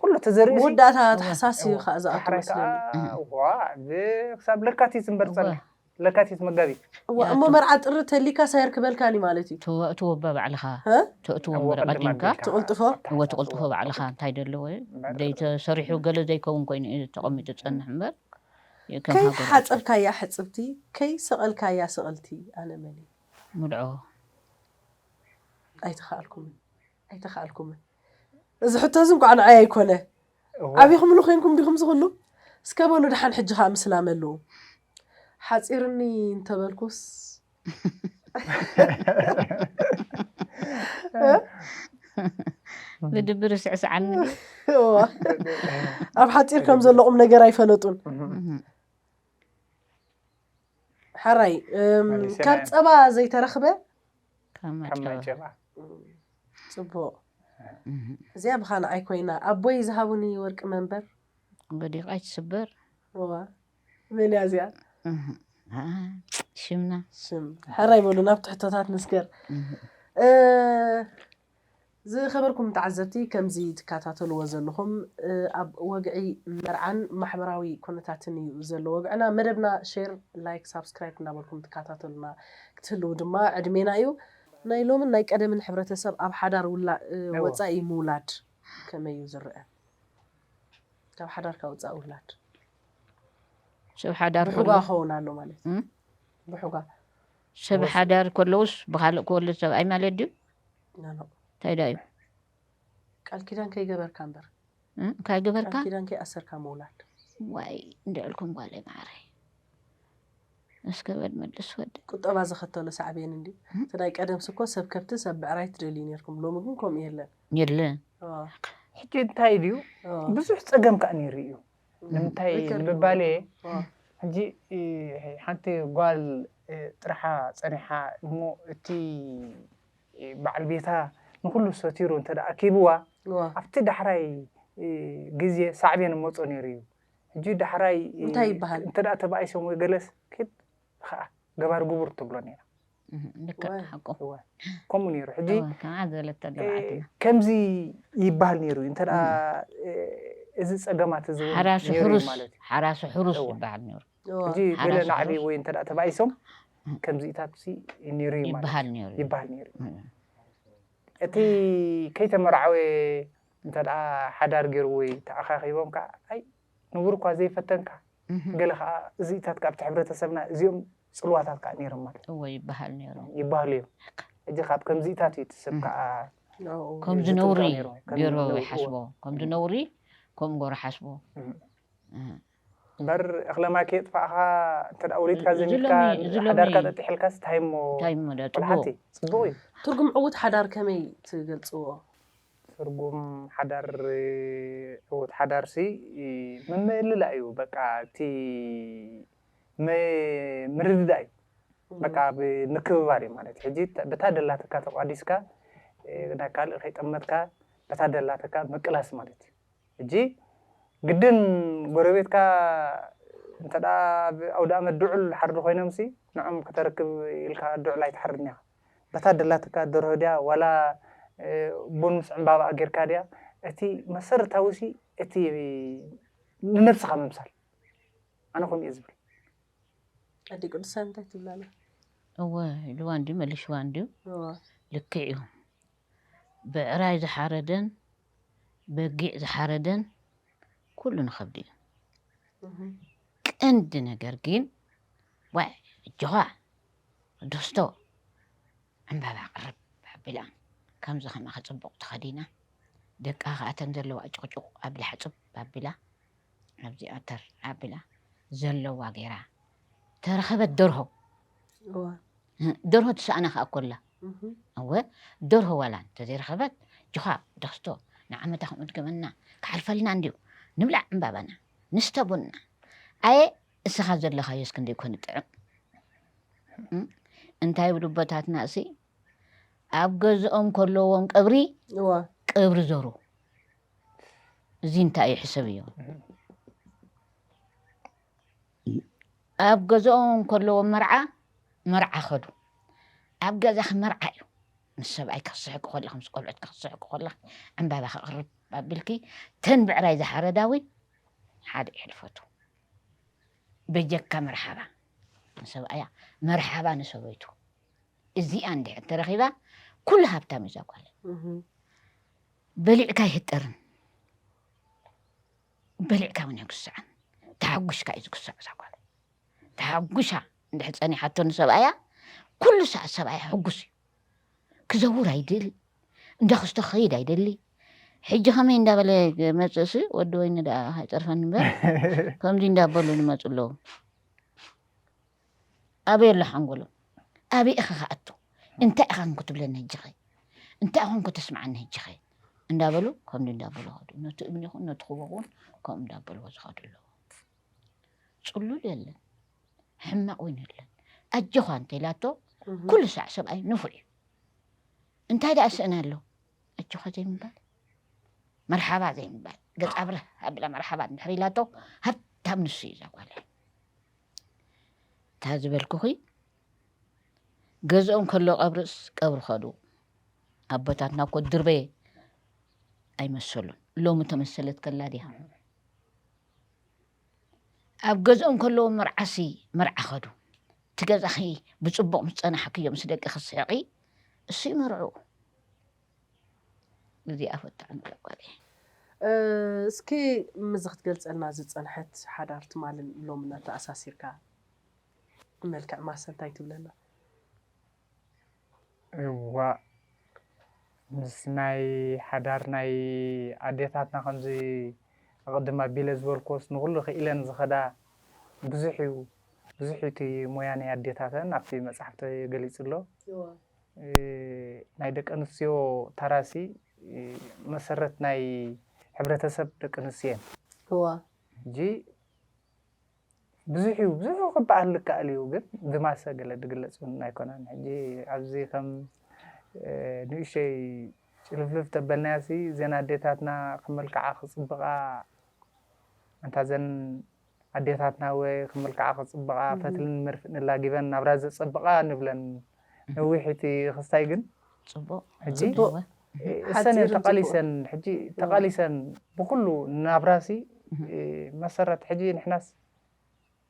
ኩሉ ተዘሪኡ ሲ መወዳእታ ታሕሳስ እዩ ከኣ ዝኣቱ መስለኒ። ዳሕራይ ከኣ ዋእ ክሳብ ለካቲት እምበር ጸኒሑ። ለካቲት መጋቢት እዋ እሞ መርዓ ጥሪ ተሊካ ሳይር ክበልካን እዩ ማለት እዩ ተእትዎ በባዕልኻ ሀ ተእትዎም እወ ቅድም ቀዲምካ ኣቢልካ ትቕልጥፎ ኣብ ታሕቲ እወ ኣትዎ። ትቕልጥፎ ባዕልኻ እንታይ ደለዎ እዩ እምበር ዘይተሰሪሑ ገለ ዘይከውን ኮይኑ እዩ ተቐሚጡ ዝጸንሕ እምበር ከም ከይ ሃገር ኣይኮነን ሓጸብካያ ሕጽብቲ ከይ ሰቐልካያ ስቕልቲ ኣነ መን እየ ምድዖ ኣይተኻኣልኩምን ኣይተኻኣልኩምን እዚ ሕቶ እዚ እንኳዕ ንዓይ ኣይኮነ ኣቢኹምሉ ኮይንኩም ዲኹም እዚ ኩሉ እስከ በሉ ደሓን ሕጂ ከኣ ምስ ላመሉ ሓጺርኒ እንተበልኩስ ብድብር ስዕስዓኒ ኣብ ሓፂር ከም ዘሎ ቁም ነገር ኣይፈለጡን ሓራይ ካብ ፀባ ዘይተረኽበ ከም ከም ማይ ማይ ጭራ። ጭራ። ጽቡቕ እዚኣ ብኻልኣይ ኮይና ኣቦይ ዝሃቡኒ ወርቂ መንበር። ወዲቓ ኣይትስበር። እዋ መን እያ እዚኣ? እህ፣ ኣኣ፣ ሽምና። ሽም ሕራይ በሉ ናብ ትሕቶታት ንስገር። እህ፣ ዝኸበርኩም ተዓዘብቲ ከምዚ ትካታተልዎ ዘለኹም ኣብ ወግዒ መርዓን ማሕበራዊ ኩነታትን እዩ ዘሎ ወግዕና መደብና ሼር ላይክ ሳብስክራይብ እንዳበልኩም ትካታተሉና ክትህልው ድማ ዕድሜና እዩ። ናይ ሎምን ናይ ቀደምን ሕብረተሰብ ኣብ ሓዳር ወጻኢ ምውላድ ከመይ እዩ ዝረኣ ካብ ሓዳርካ ወጻኢ ውላድ ብሑጋ ክኸውን ኣሎ ማለት እዩ ብሑጋ ሰብ ሓዳር ከለውስ ብካልእ ክወልድ ሰብኣይ ማለት ድዩ? ኖኖእ። እንታይ ድኣ እዩ? ቃል ኪዳን ከይገበርካ እምበር። እንታይ ገበርካ? ቃል ኪዳን ከይኣሰርካ ምውላድ። ዋይ እንድዕልኩም ጓለይ መዓረይ እስከ በል መልስ ወዲ። ቁጠባ ዘኸተሎ ሳዕቤን እንድዩ እቲ ናይ ቀደምስ እኮ ሰብ ከብቲ ሰብ ብዕራይ ትደልዩ ኔርኩም ሎሚ ግን ከምኡ የለን። የለን። ሕጂ እንታይ ድዩ ብዙሕ ጸገም ከኣ ኔሩ እዩ ንምንታይ ምባል እየ ሕጂ ሓንቲ ጓል ጥርሓ ጸኒሓ እሞ እቲ በዓል ቤታ ንኹሉ ሰቲሩ እንተ ኣኪብዋ ኣብቲ ዳሕራይ ግዜ ሳዕቤን መጾ ነይሩ እዩ ሕጂ ዳሕራይ እንታይ ይበሃል እንተ ተባኢሶም ወይ ገለስ ክድ ከዓ ገባር ግቡር ትብሎ ነይራ ከምኡ ነይሩ ሕጂ ከምዚ ይበሃል ነይሩ እዩ እንተ እዚ ፀገማት እዚ ማለት ሓራሱ ሕሩስ ይበሃል ነይሩ ሕጂ ገለ ናዕቢ ወይ እንተ ተባኢሶም ከምዚታት ነይሩ እዩ ይበሃል ነይሩ እቲ ከይተመርዓወ እንተ ሓዳር ገይሩ ወይ ተኣኻኺቦም ከዓ ንቡር እኳ ዘይፈተንካ ገለ ከኣ እዚኢታት ከኣ ኣብቲ ሕብረተሰብና እዚኦም ጽልዋታት ከኣ ነይሮም ማለት እወ ይበሃል ነይሩ ይበሃሉ እዮም ሕጂ ካብ ከምዚኢታት እዩ እቲ ሰብ ከኣ ከምዚ ነውሪ ገይሩ ይሓስቦ ከምዚ ነውሪ ከምኡ ገይሩ ሓስቦ እምበር እኽለማይ ከየጥፋእኻ እንተ ወሊድካ ዘሚትካ ሓዳርካ ጠጢሕልካስ እንታይ እሞ ቆልሓቲ ፅቡቕ እዩ ትርጉም ዕዉት ሓዳር ከመይ ትገልፅዎ? ትርጉም ሓዳር ዕዉት ሓዳር ሲ ምምእልላእ እዩ በቃ እቲ ም ምርድዳእ እዩ በቃ ብ ምክብባር እዩ ማለት ሕጂ በታ ደላትካ ተቋዲስካ ናይ ካልእ ከይጠመትካ በታ ደላትካ ምቅላስ ማለት እዩ ሕጂ ግድን ጎረቤትካ እንተ ኣብ ኣውዳኣመት ድዑል ሓርዲ ኮይኖም ሲ ንዖም ከተርክብ ኢልካ ድዑል ኣይትሓርድን ኢኻ በታ ደላትካ ደርሆ ድያ ዋላ ቡን ምስ ዕምባባኣ ጌርካ ድያ እቲ መሰረታዊሲ እቲ ንነብስኻ ምምሳል ኣነ ከምኡ እየ ዝብል። ኣደይ ቅዱሳን እንታይ ትብላ ኣላ? እወ ኢልዋ እንድዩ መሊሽዋ እንድዩ እወ ልክዕ እዩ ብዕራይ ዝሓረደን በጊዕ ዝሓረደን ኩሉ ንኸብድ እዩ እህ ቀንዲ ነገር ግን ዋይ ኣጆኻ ዶስቶ ዕምባባ ቅርብ ኣቢላ ከምዚ ከማኺ ጽቡቕ ተኸዲና ደቃ ከኣ እተን ዘለዋ ጭቕጭቕ ኣቢላ ሕጽብ ኣቢላ ኣብዚኣ ተር ኣቢላ ዘለዋ ገይራ ተረኸበት ደርሆ ደርሆ ትሰኣና ከኣ ኮላ እወ ደርሆ ዋላ እንተዘይረኸበት ጅኻ ዶስቶ ንዓመታ ከምኡ ድገመና ክሓልፈልና እንድዩ ንብላዕ ዕምባባና ንስተ ቡንና ኣየ እስኻ ዘለኻዮስ ክንደይ ኮን ይጥዕም እንታይ ይብሉ ኣቦታትና እሲ ኣብ ገዝኦም ከለዎም ቀብሪ እዋ ቀብሪ ዘሩ እዚ እንታይ እዩ ሕሰብ እዮ ኣብ ገዝኦም ከለዎም መርዓ መርዓ ከዱ ኣብ ገዛኺ መርዓ እዩ ምስ ሰብኣይ ክትስሕቂ ከለኺ ምስ ቆልዑት ክትስሕቂ ከለኺ ዕምባባ ከቕርብ ኣቢልኪ ተን ብዕራይ ዝሓረዳ እውን ሓደ ይሕልፈቱ በጀካ መርሓባ ንሰብኣያ መርሓባ ንሰበይቱ እዚኣ እንድሕር ተረኺባ ኩሉ ሃብታም እዛ ጓል በሊዕካ ይህጠርን በሊዕካ እውን የግስዕን ተሓጒስካ እዩ ዝግስዕ እዛ ጓል ተሓጒሳ እንድሕር ፀኒሓቶ ንሰብኣያ ኩሉ ሰዓት ሰብኣያ ሕጉስ እዩ ክዘውር ኣይደል እንዳክስቶ ክኸይድ ኣይደሊ ሕጂ ከመይ እንዳበለ መፅእሲ ወዲ ወይኒ ደኣ ኣይፀርፈኒ እምበር ከምዚ እንዳበሉ ንመፁ ኣለዉ ኣበይ ኣሎ ሓንጎሎም ኣበይ ኢኸ ክኣቱ እንታይ ኢኻ ክንክትብለኒ ህጅኸ እንታይ ኢኹም ከተስምዓኒ ህጅኸ እንዳበሉ ከምዚ እንዳበሉ ኸዱ ነቲ እምኒ ይኹን ነቲ ክቦ እውን ከምኡ እንዳበልዎ ዝኸዱ ኣለዉ ጽሉል የለን ሕማቕ እውን የለን ኣጆኻ እንተኢላቶ ኩሉ ሳዕ ሰብኣይ ንፉዕ እዩ እንታይ ደኣ ስእን ኣሎ ኣጆኻ ዘይምባል መርሓባ ዘይምባል ገጻ ብርህ ኣብላ መርሓባ እንድሕር ኢላቶ ሃብታም ንሱ እዩ ዘጓለ እታ ዝበልኩኺ ገዝኦም ከሎ ቀብርስ ቀብሪ ኸዱ ኣቦታትና እኮ ድርበ ኣይመሰሉን ሎሚ ተመሰለት ከላ ድያ ኣብ ገዝኦም ከለዉ መርዓሲ መርዓ ከዱ እቲ ገዛኺ ብፅቡቕ ምስ ፀናሕክዮ ምስ ደቂ ክትስሕቒ እሱ ይመርዑ እዚኣ ፈታዕ ንለቋል እስኪ ምዚ ክትገልፀልና ዝፀንሐት ሓዳር ትማልን ሎምን ኣተኣሳሲርካ ብመልክዕ ማሰ እንታይ ትብለና? እዋእ ምስ ናይ ሓዳር ናይ ኣዴታትና ከምዚ ኣቐድም ኣቢለ ዝበልክዎስ ንኹሉ ክኢለን ዝኸዳ ብዙሕ እዩ ብዙሕ እዩ እቲ ሞያ ናይ ኣዴታተን ኣብቲ መፅሓፍቲ ገሊፁ ኣሎ። ናይ ደቂ ኣንስትዮ ተራሲ መሰረት ናይ ሕብረተሰብ ደቂ ኣንስትዮ እየን። ሕጂ ብዙሕ እዩ ብዙሕ ክበሃል ዝከኣል እዩ ግን ብማሰ ገለ ዝግለፅ እውን ኣይኮነን ሕጂ ኣብዚ ከም ንእሸይ ጭልፍልፍ ተበልናያሲ እዘን ኣዴታትና ክመልክዓ ክፅብቓ ኣንታ ዘን ኣዴታትና ወ ክመልክዓ ክፅብቓ ፈትልን መርፍእን ላጊበን ናብራ ዘፀብቓ ንብለን ነዊሒቲ ክስታይ ግን ጽቡቅ ሕጂ ጽቡቅ እሰን እየን ሓጺርን ተቃሊሰን ሕጂ ተቃሊሰን ብኩሉ ናብራሲ መሰረት ሕጂ ንሕናስ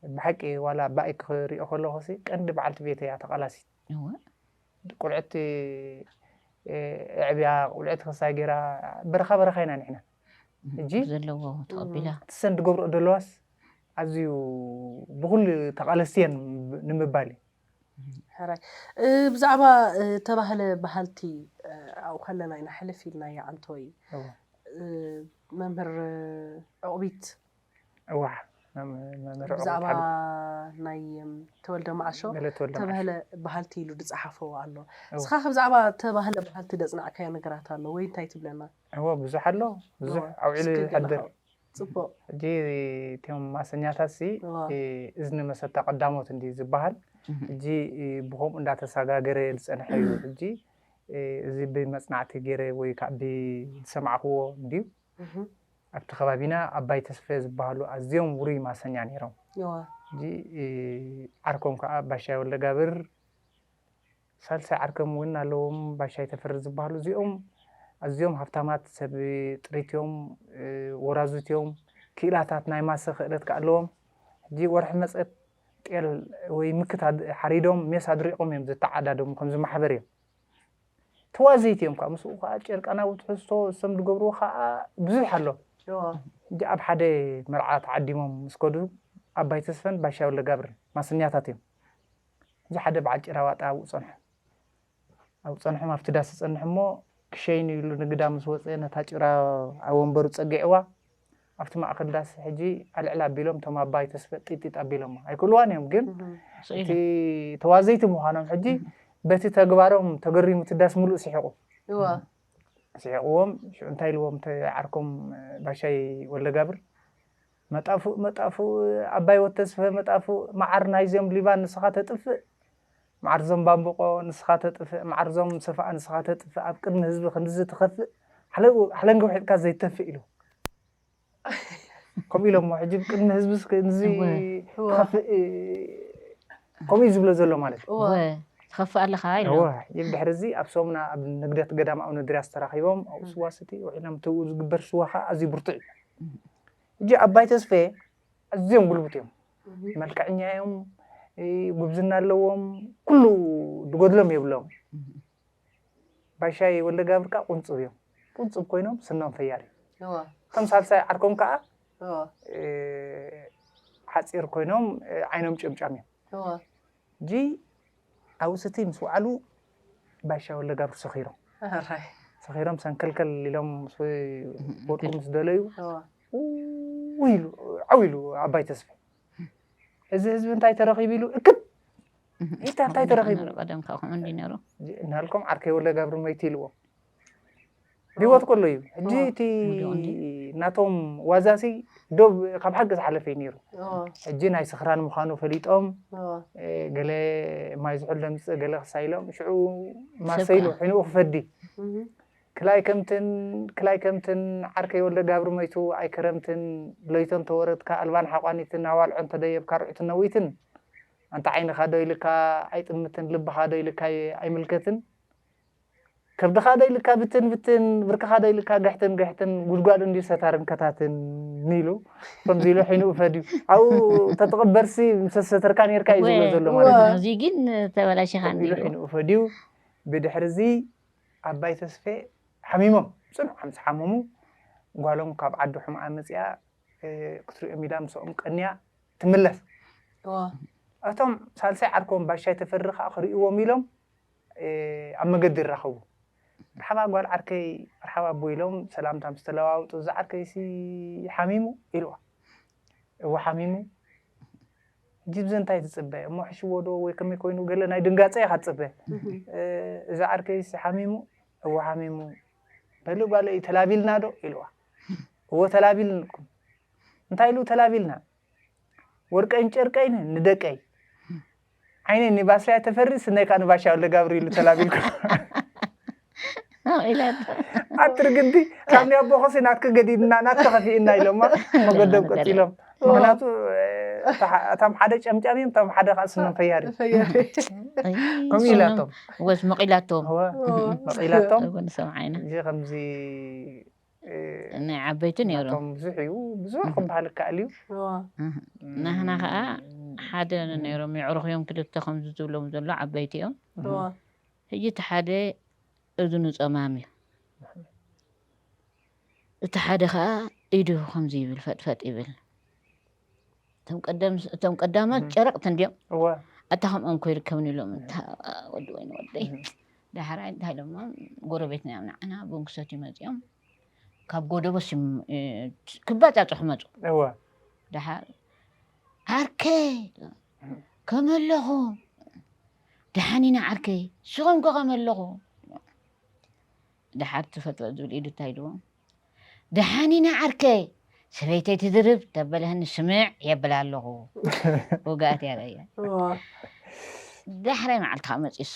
ብሓቂ ዋላ ባይ ክሪኦ ከለኩሲ ቀንዲ በዓልቲ ቤተይ እያ ተቃላሲት እወ ቁልዕቲ ኣዕብያ ቁልዕቲ ክስታይ ገይራ በረካ በረካ ኢና ንሕና ሕጂ ዘለዎ ተቀቢላ እሰን ዝገብርኦ ዘለዋስ ኣዝዩ ብኩሉ ተቃለስቲ እየን ንምባል እዩ ሕራይ ብዛዕባ ተባህለ ባህልቲ ኣብኡ ከለና ኢና ሕልፍ ኢልናያ ኣንቶይ መምህር ዕቑቢት እዋዕ ብዛዕባ ናይ ተወልደ መዓሾ ተባህለ ባህልቲ ኢሉ ዝፀሓፎ ኣሎ እስኻ ከ ብዛዕባ ተባህለ ባህልቲ ዘፅናዕካዮ ነገራት ኣሎ ወይ እንታይ ትብለና እወ ብዙሕ ኣሎ ብዙሕ ኣብዒሉ ይሕድር ጽቡቕ። ሕጂ እቶም ማሰኛታትሲ እወ። እዝኒ መሰታ ቀዳሞት እንድዩ ዝበሃል። ሕጂ ብኸምኡ እንዳተሳጋገረ ዝጸንሐ እዩ። ሕጂ እዚ ብመጽናዕቲ ገይረ ወይ ከኣ ብዝሰማዕክዎ እንድዩ። ኣብቲ ከባቢና ኣባይ ተስፈ ዝበሃሉ ኣዝዮም ውሩይ ማሰኛ ነይሮም። እወ። ሕጂ ዓርኮም ከኣ ባሻይ ወልደጋብር። ሳልሳይ ዓርከም እውን ኣለዎም ባሻይ ተፈሪ ዝብሃሉ እዚኦም ኣዝዮም ሃብታማት ሰብ ጥሪት እዮም ወራዙት እዮም ክኢላታት ናይ ማሰ ክእለት ከኣ ኣለዎም ሕጂ ወርሒ መጸት ጤል ወይ ምክት ሓሪዶም ሜስ ኣድሪቆም እዮም ዘተዓዳደሙ ከምዚ ማሕበር እዮም ተዋዘይቲ እዮም ከኣ ምስኡ ከኣ ጨርቃናዊ ትሕዝቶ ሰም ዝገብርዎ ከኣ ብዙሕ ኣሎ ሕጂ ኣብ ሓደ መርዓ ተዓዲሞም ምስ ከዱ ኣባይ ተስፈን ባሻይ ወልደጋብርን ማሰኛታት እዮም እዚ ሓደ በዓል ጭራዋጣ ኣብኡ ጸንሖም። ኣብኡ ጸንሖም ኣብቲ ዳስ ይጸንሕ እሞ ክሸይኑ ኢሉ ንግዳ ምስ ወጸ ነታ ጭራ ኣብ ወንበሩ ጸጊዕዋ ኣብቲ ማእከል ዳስ ሕጂ ኣልዕል ኣቢሎም እቶም ኣባይ ተስፈ ጢጢጥ ኣቢሎማ። ኣይክእልዋን እዮም ግን እቲ ስኢነ ተዋዘይቲ ምዃኖም ሕጂ በቲ ተግባሮም ተገሪሙ እቲ ዳስ ምሉእ ስሒቑ። እወ። ስሒቕዎም ሽዑ እንታይ ኢልዎም እቲ ዓርኮም ባሻይ ወልደጋብር መጣፉእ መጣፉእ ዓባይ ወድ ተስፈ መጣፉእ መዓር ናይዚኦም ሊባን ንስኻ ተጥፍእ መዓር ዞም ባምብቆ ንስኻ ተጥፍእ መዓር ዞም ሰፋኣ ንስኻ ተጥፍእ ኣብ ቅድሚ ህዝቢ ክንድዚ ትኸፍእ ሓለንጊ ውሒጥካ ዘይተፍእ ኢሉ ከምኡ ኢሎሞ ሕጂ ኣብ ቅድሚ ህዝቢ ክንድዚ ትኸፍእ ከምኡ እዩ ዝብሎ ዘሎ ማለት እዩ ትኸፍእ ኣለኻ ኢሎ ሕጂ ድሕሪ እዚ ኣብ ሰሙና ኣብ ንግደት ገዳም ኣብነድርያስ ተራኺቦም ኣብኡ ስዋ ስቲ ውዒሎም እቲ ዝግበር ስዋ ከዓ ኣዝዩ ብርቱዕ እዩ ሕጂ ኣባይ ተስፌ ኣዝዮም ጉልቡት እዮም መልክዐኛ እዮም ጉብዝና ኣለዎም ኩሉ ድጎድሎም የብሎም ባሻይ ወልደጋብር ከዓ ቁንፅብ እዮም ቁንፅብ ኮይኖም ስኖም ፈያር እዩ እቶም ሳልሳይ ዓርኮም ከዓ ሓፂር ኮይኖም ዓይኖም ጭምጫም እዮም ጅ ኣብኡ ስቲ ምስ ወዓሉ ባሻ ወልደጋብር ሰኺሮም እራይ ሰኺሮም ሰንከልከል ኢሎም ምስ ወድቁ ምስ ደለዩ እዋ ኡ ኢሉ ዓው ኢሉ ኣባይ ተስፋ እዚ ህዝቢ እንታይ ተረኺቡ ኢሉ እክብ ኢልካ እንታይ ተረኺቡ ቀደም ካብ ከምኡ እንዲ ነይሩ ጅ- እናሃልኮም ዓርከይ ወልደጋብር መይቱ ኢልዎም ብሂወት ከሎ እዩ ሕጂ እቲ ናቶም ዋዛሲ ዶብ ካብ ሓቂ ዝሓለፈ እዩ ነይሩ ሕጂ ናይ ስኽራን ምዃኑ ፈሊጦም ገለ ማይ ዝሑል ደምፅእ ገለ ክሳ ኢሎም ሽዑ ማሰይሉ ሕንኡ ክፈዲ ክላይ ከምትን ክላይ ከምትን ዓርከይ ወልደ ጋብሪ መይቱ ኣይከረምትን ለይቶ እንተወረድካ ኣልባን ሓቋኒትን ኣዋልዖ እንተደየብካ ርዑትን ነዊትን ኣንታ ዓይንኻ ዶ ኢልካ ኣይጥምትን ልብኻ ዶ ኢልካ ኣይምልከትን ከብድኻ ዶ ኢሉካ ብትን ብትን፣ ብርክኻ ዶ ኢሉካ ግሕትን ግሕትን፣ ጉድጓድ እንድዩ ሰታርን ከታትን ኢሉ ከምዚ ኢሉ ሒንኡ ፈድዩ። ኣብኡ ተትቕበርሲ ምስ ኣሰተርካ ኔርካ እዩ ዝብሎ ዘሎ ማለት እዩ። ኣዚ ግን ተበላሺኻ እንድዩ። ኢሉ ሒንኡ ፈድዩ። ብድሕርዚ ኣባይ ተስፌ ሓሚሞም፣ ጽኑዕ ምስ ሓመሙ፣ ጓሎም ካብ ዓዲ ሑምኣ መጺኣ ክትሪኦም ኢላ ምሳኦም ቀንያ ትምለስ። እቶም ሳልሳይ ዓርኮም ባሻይ ተፈሪ ከኣ ክሪእዎም ኢሎም፣ ኣብ መገዲ ይራኸቡ። መርሓባ ጓል ዓርከይ፣ መርሓባ ኣቦይ ኢሎም ሰላምታ ምስ ተለዋወጡ፣ እዚ ዓርከይሲ ሓሚሙ? ኢልዋ። እወ ሓሚሙ። ሕጂ ብዘ እንታይ ትጽበ? እሞ ሕሽዎዶ ወይ ከመይ ኮይኑ ገለ ናይ ድንጋጸ ኢኻ ትጽበ። እዚ ዓርከይሲ ሓሚሙ? እወ ሓሚሙ። በሊ ጓለይ ተላቢልናዶ? ኢልዋ። እወ ተላቢልንኩም። እንታይ ኢሉ ተላቢልና? ወርቀይን ጨርቀይን ንደቀይ። ዓይነይ ንባስልያ ተፈሪ ስነይ ከኣ ንባሻ ወልደጋብር ኢሉ ተላቢልኩም ኣትርግዲ ካብ ናይ ኣቦኸሲ ናትኪ ገዲድና ናትኪ ከፊእና ኢሎማ መገዶም ቀፂሎም ምክንያቱ እቶም ሓደ ጨምጫም እዮም እቶም ሓደ ከዓ ስኖም ፈያሪ ከምኡ ኢላቶም ወስ መቂላቶም መቂላቶም እዚ ከምዚ ናይ ዓበይቲ ነይሩ። ናቶም ብዙሕ እዩ ብዙሕ ክበሃል ይከኣል እዩ። ናህና ከኣ ሓደ ነይሮም የዕሩኽ እዮም ክልተ ከምዚ ዝብሎም ዘሎ ዓበይቲ እዮም። ሕጂ እቲ ሓደ እዝኑ ጸማም እዩ እቲ ሓደ ከኣ ኢዱ ከምዚ ይብል ፈጥፈጥ ይብል። እቶም ቀደም እቶም ቀዳማት ጨረቕቲ እንድዮም እወ ኣታ ከምኦም ከይርከብኒ ኢሎም እታ ወዲ ወይኒ ወደይ ዳሕራይ እንታይ ኢሎሞ ጎረቤትና እዮም ንዓና ቡን ክሰትዩ መፂኦም ካብ ጎደቦስ እዮም እ፣ ክባፃፅሑ መፁ እወ ድሓር ዓርከይ ከመይ ኣለኹ ድሓን ኢና ዓርከይ ንስኹም ከ ከመይ ኣለኹ ድሓር ትፈጥሮ ዝብል ኢዱ እንታይ ኢልዎ ደሓን ኢና ዓርከይ ሰበይተይ ትድርብ ተበለህኒ ስምዕ የብላ ኣለኹ ውግኣት እያ ረእያ ዳሕራይ መዓልቲ ከዓ መፂሱ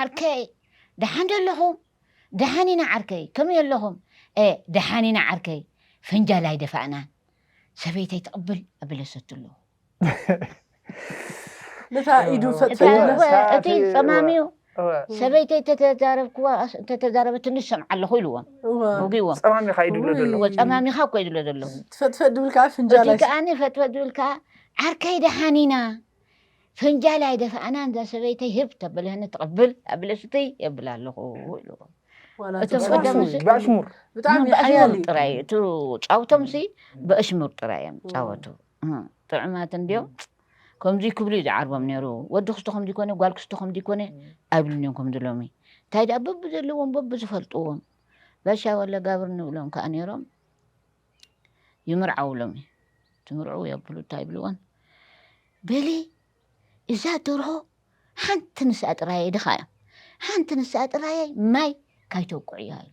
ዓርከይ ደሓን ዶ ኣለኹም ደሓን ኢና ዓርከይ ከመይ ኣለኹም ደሓን ኢና ዓርከይ ፈንጃል ኣይደፋእናን ሰበይተይ ትቕብል ኣበለሰትሉ ነታ ኢዱ እቲ ፈጸመ ኣልቦ እቲ ጸማም እዩ እወ ሰበይቲ እንተተዛረብክዋ እንተተዛረበትኒ ዝሰምዓ ኣለኹ ኢልዎም እወ ወጊዎም ጸማም ኢኻ ኢድብሎ ዘሎ እወ ጸማሚኻ እኮ እዩ ዝብሎ ዘሎ ትፈጥፈጥ ድብል ከዓ ፍንጃል እቲ ኣይስ ከዓኒ ፈትፈት ዝብል ከዓ ዓርከይ ደሓን ኢና ፈንጃል ኣይደፋእናን እዛ ሰበይተይ ህብ ተበልህኒ ትቕብል ኣብለ ስትይ የብል ኣለኹ ኢልዎ ዋላ እቲ ተዛረብ። ቀዳም ጸማም ምስ- እዩ፣ ብኣሽሙር ብጣዕሚ ሓያል በኣሽሙር እዩ ጥራይ እዩ እቲ ጫውቶም ሲ በኣሽሙር ጥራይ እዮም ጫወቱ እህ ጥዑማት እንድዮም ከምዙይ ክብሉ እዩ ዝዓርቦም ነይሩ ወዲ ክስቶ ከምዙይ ኮነ ጓል ክስቶ ከምዙይ ኮነ ኣይብሉን እዮም ከምዚ ሎሚ እንታይ ደኣ በብዘለዎም በብዝፈልጥዎም ባሻ ወለ ጋብር ንብሎም ከዓ ነይሮም ይምርዓው ሎሚ ትምርዑ የብሉ እንታይ ይብልዎን በሊ እዛ ደርሆ ሓንቲ ንስኣ ጥራየይ ድኻ እዮም ሓንቲ ንስኣ ጥራየይ ማይ ካይተውቅዕያ እዩ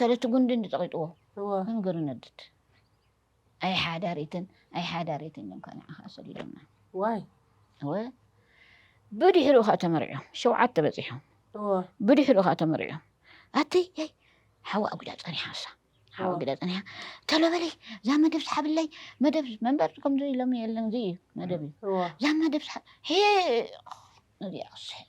ተለቲ ጉንዲ እንድጠቂጥዎ መንገሩ ነድድ ኣይ ሓዳሪትን ኣይ ሓዳሪትን እዮም ከ ንዓኻ ሰዲዶምና ዋይ እወ ብድሕሪኡ ከዓ ተመሪዖም ሸውዓተ በፂሖም ብድሕሪኡ ከዓ ተመሪዖም ኣተይ ኣይ ሓዋ ኣጉዳ ፀኒሓሳ ሓዋ ኣጉዳ ፀኒሓ ተሎ በለይ እዛ መደብ ስሓብለይ መደብ መንበር ከምዚ ኢሎም የለን እዚ እዩ መደብ እዩ እዛ መደብ ስሓብ ሒቕ ነዚኣ ክስሕብ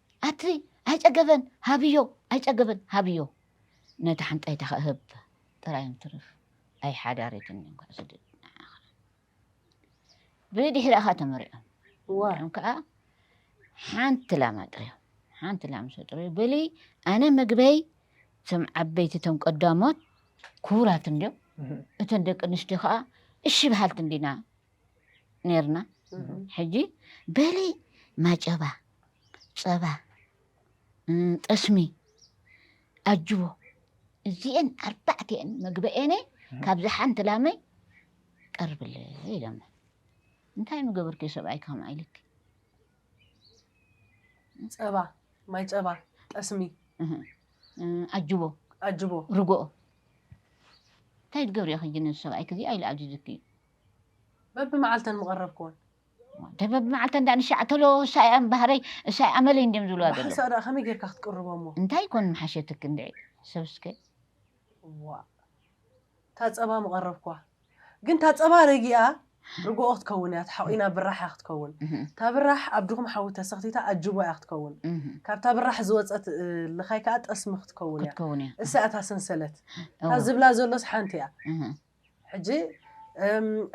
ኣትሪ ኣይጸገበን ሃብዮ ኣይጸገበን ሃብዮ ነታ ሓንጣይታ ከእ ህብ ጥራይ እንትርፍ ኣይ ሓዳሪትን እንኳዕ ስድድ ንዓኻ ብድሕሪ ኣኻ ተመሪዖም እዋም ከኣ ሓንቲ ላም ኣጥርዮም ሓንቲ ላም ምስ ኣጥርዩ በሊ ኣነ ምግበይ እቶም ዓበይቲ እቶም ቀዳሞት ክቡራት እንድዮም እተን ደቂ ኣንስትዮ ከኣ እሺ በሃልቲ እንዲና ነርና ሕጂ በሊ ማጨባ ጸባ ጠስሚ ኣጅቦ እዚኤን ኣርባዕቲኤን መግበኤነ ካብዚ ሓንቲ ላመይ ቀርብለ ኢሎሞ እንታይ ምገበርኩ ሰብኣይ ከም ኣይልክ ጸባ ማይ ጸባ ጠስሚ ኣጅቦ ኣጅቦ ርጎኦ እንታይ ትገብሪ ኢኺ ጅነዚ ሰብኣይክ እዚ ኣይልኣዝዝክ እዩ በብመዓልተን ምቐረብክወን። እንተ በብመዓልተን ደኣ ንሻዕ ተሎ እሳ ኢያ ባህረይ እሳ ኢያ ኣመለይ እንድዮም ዝብልዋ ዘለዉ። ብሓንሳእ ደኣ ከመይ ጌርካ ክትቅርቦ እሞ። እንታይ ኮን ምሓሸትኪ እንድዒ ሰብ እስከ። እዋእ እታ ጸባ ምቐረብክዋ። ግን እታ ጸባ ረጊኣ ርግኦ ክትከውን ኢያ ተሓቒና ብራሕ ኢያ ክትከውን። እታ ብራሕ ኣብ ድኹም ሓዊ ተሰኽቲታ ኣጅቦ ኢያ ክትከውን። ካብታ ብራሕ ዝወጸት ልኻይ ከኣ ጠስሚ ክትከውን ኢያ። ክትከውን ኢያ። እሳ ኢያ እታ ሰንሰለት። እታ ዝብላ ዘሎስ ሓንቲ ኢያ። ሕጂ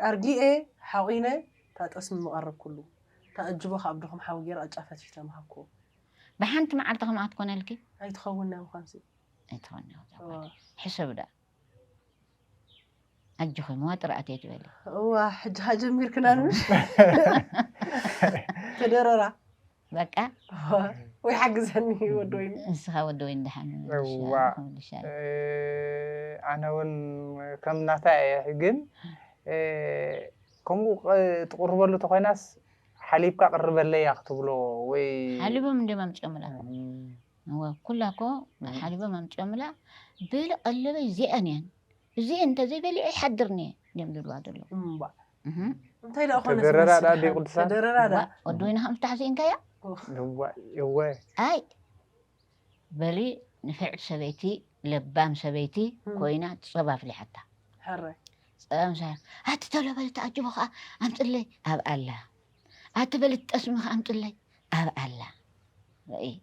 ኣርጊኤ ሓቒነ እታ ጠስሚ ምቐረብኩሉ። እታ ኣጅቦ ከኣ ብ ድኹም ሓዊ ገይረ ቅጫ ፈትፊተ ምሃብኩዎ። ብሓንቲ መዓልቲ ከምኣ ክትኮነልኪ? ኣይትኸውን ናይ ምዃንሲ። ኣይትኸውን ናይ ምዃንሲ እዛ ጓል። ሕሰቢ ደኣ። ኣጆኺ መዋጥር ኣትየኪ በሊ። እዋ ሕጂ ከኣ ጀሚርክናኒ ምሽ? ክድርራ። በቃ ወይ ሓግዘኒ ወዲ ወይኒ ንስኻ ወዲ ወይኒ ደሓን ምልሻ ኣነ እውን ከም ናታ እየ ግን ከምኡ ትቕርበሉ ተኮይናስ ሓሊብካ ቅርበለያ ክትብሎ ወይ ሓሊቦም እንደ ኣምጪኦምላ ኩላ እኮ ሓሊቦም ኣምጪኦምላ በለ ቀለበይ እዚኣን እየን እዚ እንተዘይበሊዐ ይሓድርኒ እዮም ዝብልዋ ዘሎ እንታይ ደኣ ኮነ ተደረራ ደኣ ዲ ቅዱሳን ተደረራ ደኣ ወዲ ወይኒ ከም ፍታሕ ስኢንካያ እወ ኣይ በሊ ንፍዕቲ ሰበይቲ ለባም ሰበይቲ ኮይና ጸባ ኣፍሊሓታ ሕራይ ጸባ ምስ ኣቲ ተሎ በሊ ተኣጅቦ ከኣ ኣምጽለይ ኣብ ኣላ ኣቲ በለት ጠስምኺ ኣምፅለይ ኣብ ኣላ ረእይ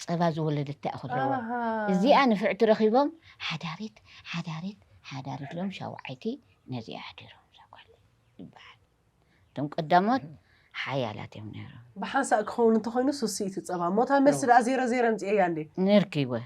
ፀባ ዝወለደት ታይ እኹል ኣለዋ ኣሃ እዚኣ ንፍዕቲ ረኺቦም ሓዳሪት ሓዳሪት ሓዳሪት ኢሎም ሻውዓይቲ ነዚኣ ኣሕዲሮም እዛ ጓል ይበሃል እቶም ቀዳሞት ሓያላት እዮም ነይሮም ብሓንሳእ ክኸውን እንተኾይኑ ሱስይቲ ፀባ እሞ እታ መልሲ ደኣ ዜሮ ዜሮ ኣምፂኤያ እንዴ ነርኪወ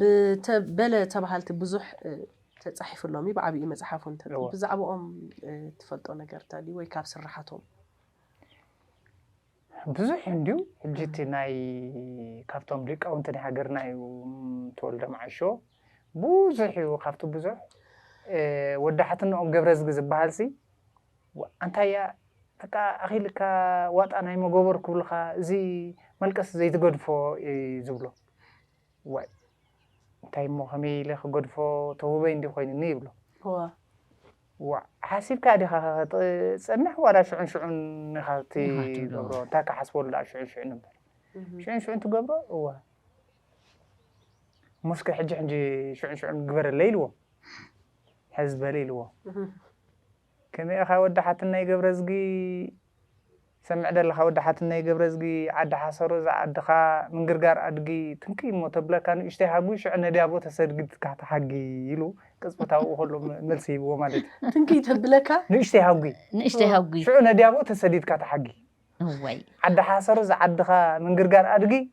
ብተ በለ ተባሃልቲ ብዙሕ ተጻሒፉ ሎሚ ብዓብዩ መጽሓፉ እንተ እወ። ብዛዕባኦም እ፣ ትፈልጦ ነገር እንተልዩ ወይ ካብ ስራሓቶም ብዙሕ እዩ እንድዩ ሕጂ እቲ ናይ ካብቶም ሊቃውንቲ ናይ ሃገርና እዩ ም፣ ተወልደ መዓሾ ብዙሕ እዩ ካብቲ ብዙሕ እ፣ ወዲ ሓትነኦም ገብረዝጊ ዝበሃልሲ ዋ፣ ኣንታይ እያ በቃ ኣኺልካ ዋጣ ናይ መጎበር ክብሉኻ እዚ መልቀስ ዘይትገድፎ እዩ ዝብሎ ዋይ እንታይ እሞ ከመይ ኢለ ክገድፎ ተውበይ እንዲ ኮይኑኒ ይብሎ። ዋእ ሓሲብካ ዲኻ ክትጸንሕ ዋላ ሽዑን ሽዑን ኢኻ ትገብሮ እንታይ ክሓስበሉ ደኣ ሽዑን ሽዑን እምበር ሽዑን ሽዑን ትገብሮ እወ ሙስከ ሕጂ ሕጂ ሽዑን ሽዑን ግበረለይ ኢልዎ ሕዚ በለ ኢልዎ ከመይ ኢኻ ወዲ ሓትነይ ገብረዝጊ ትሰምዕ ደለኻ ወዲ ሓትነይ ገብረዝጊ ዓዲ ሓሰሮ እዛ ዓድኻ ምንግርጋር ኣድጊ ትንክይ እሞ ተብለካ ንእሽተይ ሃጉ ሽዑ ነድያቦ ተሰድግድካ ትሓጊ ኢሉ ቅጽበታዊ ኣብኡ ከሎ መልሲ ሂብዎ ማለት እዩ ትንክይ ተብለካ ንእሽተይ ሃጉ ንእሽተይ ሃጉ ሽዑ ነድያቦ ተሰዲድካ ትሓጊ እዋይ ዓዲ ሓሰሮ እዛ ዓድኻ ምንግርጋር ኣድጊ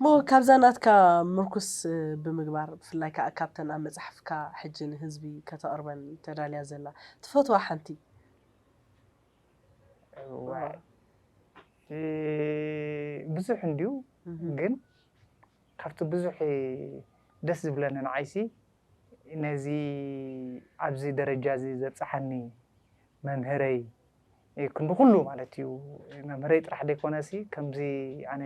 እሞ ካብዛ ናትካ ምርኩስ ብምግባር ብፍላይ ከኣ ካብተን ኣብ መጽሓፍካ ሕጂ ንህዝቢ ከተቕርበን ተዳልያ ዘላ ትፈትዋ ሓንቲ እዋይ ብዙሕ እንድዩ ግን ካብቲ ብዙሕ ደስ ዝብለኒ ንዓይሲ ነዚ ኣብዚ ደረጃ እዚ ዘብጽሓኒ መምህረይ ክንዲ ኩሉ ማለት እዩ መምህረይ ጥራሕ ዘይኮነሲ ከምዚ ኣነ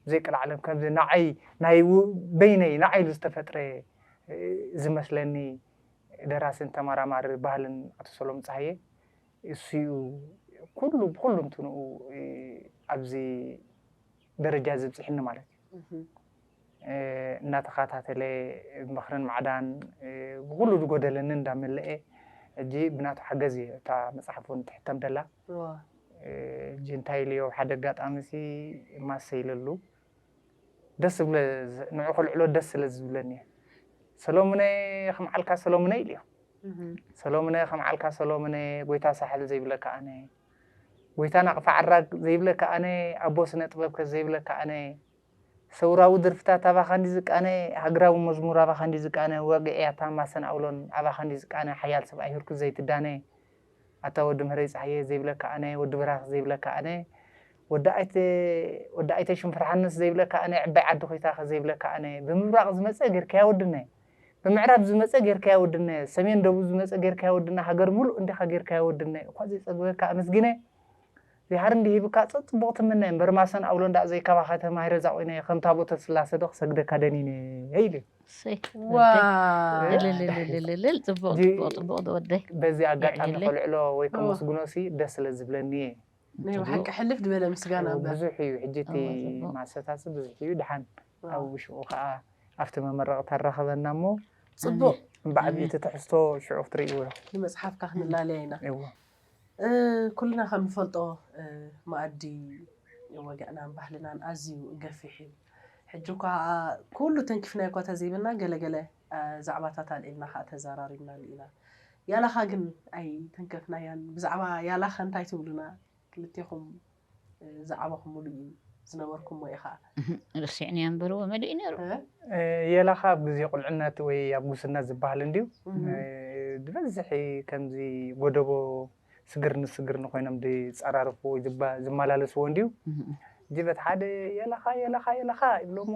ብዘይ ቀልዓለም ከምዚ ንዓይ ናይ በይነይ ንዓይ ኢሉ ዝተፈጥረ ዝመስለኒ ደራስን ተመራማሪ ባህልን ኣቶ ሰሎም ጸሃየ እሱኡ ኩሉ ብኩሉ እንትንኡ ኣብዚ ደረጃ እዚ ኣብጽሕኒ ማለት እዩ። እንዳተኻታተለ ምኽርን ማዕዳን ብኹሉ ዝጎደለኒ እንዳመለኤ ሕጂ ብናቱ ሓገዝ እየ እታ መጽሓፍ ውን ትሕተም ደላ ሕጂ እንታይ ኢሉዮ ኣብ ሓደ ኣጋጣሚ ሲ ማሰ ኢለሉ ደስ ዝብለ ንዑ ከልዕሎ ደስ ስለ ዝብለኒ እየ ሰሎሙነ ከም ዓልካ ሰሎሙነ ኢሉዮ ሰሎሙነ ከም ዓልካ ሰሎሙነ ጎይታ ሳሕል ዘይብለካ ኣነ ጎይታ ናቕፋ ዓራግ ዘይብለካ ኣነ ኣቦ ስነ ጥበብ ከ ዘይብለካ ኣነ ሰውራዊ ድርፍታት ኣባኻ እንድዩ ዝቃነ ሃግራዊ መዝሙር ኣባኻ እንድዩ ዝቃነ ዋግዒ ኣታ ማሰን ኣውሎን ኣባኻ እንድዩ ዝቃነ ሓያል ሰብኣይ ህርኩት ዘይትዳነ ኣታ ወዲ ምህረይ ጸሃየ ዘይብለካ ኣነ ወዲ ብራኽ ዘይብለካ ኣነ ወዲ ኣይተ ወዲ ኣይተ ሽንፍርሓንስ ዘይብለካ ኣነ ዕባይ ዓዲ ኮይታኸ ዘይብለካ ኣነ ብምብራቕ ዝመጸ ጌርካያ ወድነ ብምዕራብ ዝመጸ ጌርካያ ወድነ ሰሜን ደቡብ ዝመጸ ጌርካያ ወድነ ሃገር ምሉእ እንዲኻ ጌርካያ ወድነ እኳ ዘይጸግበካ ኣመስጊነ ዚሓር እንዲህ ይብካ ጸ ጽቡቅ ትምነ እምበር ማሰን ኣውሎ እንዳ ዘይ ካባካ ተማሂረ ዛቆይናዮ ከም ታቦተ ስላሰ ዶ ክሰግደካ ደኒነ ኢሉ እዩ እሰይ ወደይ ዋው እልልልልልልል ጽቡቅ እዚ ጽቡቅ ጽቡቅ ዝወደይ በዚ ኣጋጣሚ የዕልለይ ከልዕሎ ወይ እወ ከመስግኖ ሲ ደስ ስለ ዝብለኒ እየ ናይ ጽቡቅ ብሓቂ ሕልፍ ዝበለ ምስጋና እው እምበር ብዙሕ እዩ ሕጂ እቲ እወ ጽቡቅ ማሰታ ሲ ብዙሕ እዩ ድሓን ኣብ ዋው ውሽኡ ከኣ ኣብቲ መመረቅታ ኣራክበና እሞ ኣሜን ጽቡቅ ብዓቢኡ ኣሜን እቲ ትሕዝቶ ሽዑ ክትርእይዎ ኢኩም ንመጽሓፍካ ክንላለያ ኢና እወ ኩልና ከም ንፈልጦ መኣዲ ወግዕናን ባህልናን ኣዝዩ ገፊሕ እዩ። ሕጂ እኳ ኩሉ ተንኪፍናዮ እኳ ተዘይበልና ገለ ገለ ዛዕባታት ኣልዒልና ከኣ ተዛራሪብናሉ ኢና። ያላኻ ግን ኣይተንከፍናያን። ብዛዕባ ያላኸ እንታይ ትብሉና ክልቴኹም? ዝዓበኹምሉ እዩ ዝነበርኩሞ ኢኻ። እህም ረሲዕንያ እምበር እወ መሊኡ ነይሩ። እ? የላኻ ኣብ ግዜ ቁልዕነት ወይ ኣብ ጉስነት ዝብሃል እንድዩ ዝበዝሕ ከምዚ ጎደቦ ስግር ንስግር ንኮይኖም ዝጸራርፍዎ ወይ ዝመላለስዎ እንድዩ እህም ጅበት ሓደ የላኻ የላኻ የላኻ ይብሎሞ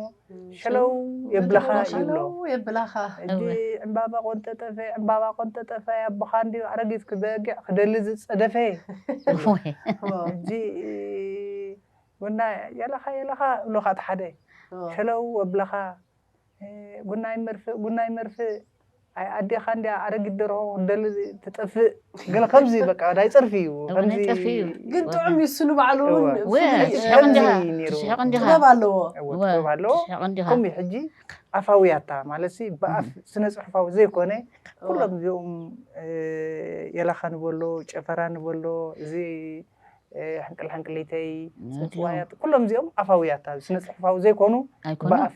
ሸለው የብላኻ ይብሎ የብላኻ ሕጂ ዕምባባ ቆንጠጠፈ ዕምባባ ቆንጠጠፈ ኣቦኻ እንድዩ ኣረጊት ክበጊዕ ክደሊ ዝጸደፈ ሕጂ ጉናይ የለኻ የለኻ እብሉኻ እቲ ሓደ ሸለው የብላኻ ጉናይ መርፍእ ጉናይ መርፍእ ኣይ ኣዴኻ እንድያ ኣረጊት ደርሆ ክትደሊ ትጠፍእ ገለ ከምዚ በቃ ናይ ጸርፊ እዩ እወ፣ ናይ ከምዚ ጸርፊ እዩ። ግን ወላ። ጥዑም እዩ ስኑ ባዕሉ እውን እወ፣ እወ፣ ፍሉይ እዩ። ትስሕቕ ከምዚ እንዲኻ፣ እዩ ነይሩ። ትስሕቕ እንዲኻ። ጥበብ ኣለዎ እወ እወ፣ ጥበብ ኣለዎ ትስሕቕ እንዲኻ። ከምኡ እዩ ሕጂ ኣፋዊ ኣታ ማለት ሲ ብኣፍ ስነ ጽሑፋዊ ዘይኮነ ኩሎም እዚኦም እ፣ የላኻ ንበሎ ጨፈራ ንበሎ እዚ እ፣ ሕንቅል ሕንቅሊተይ ጽንጽዋያት ኩሎም እዚኦም ኣፋዊ ኣታ ስነ ጽሑፋዊ ዘይኮኑ ኣይኮኑ ብኣፍ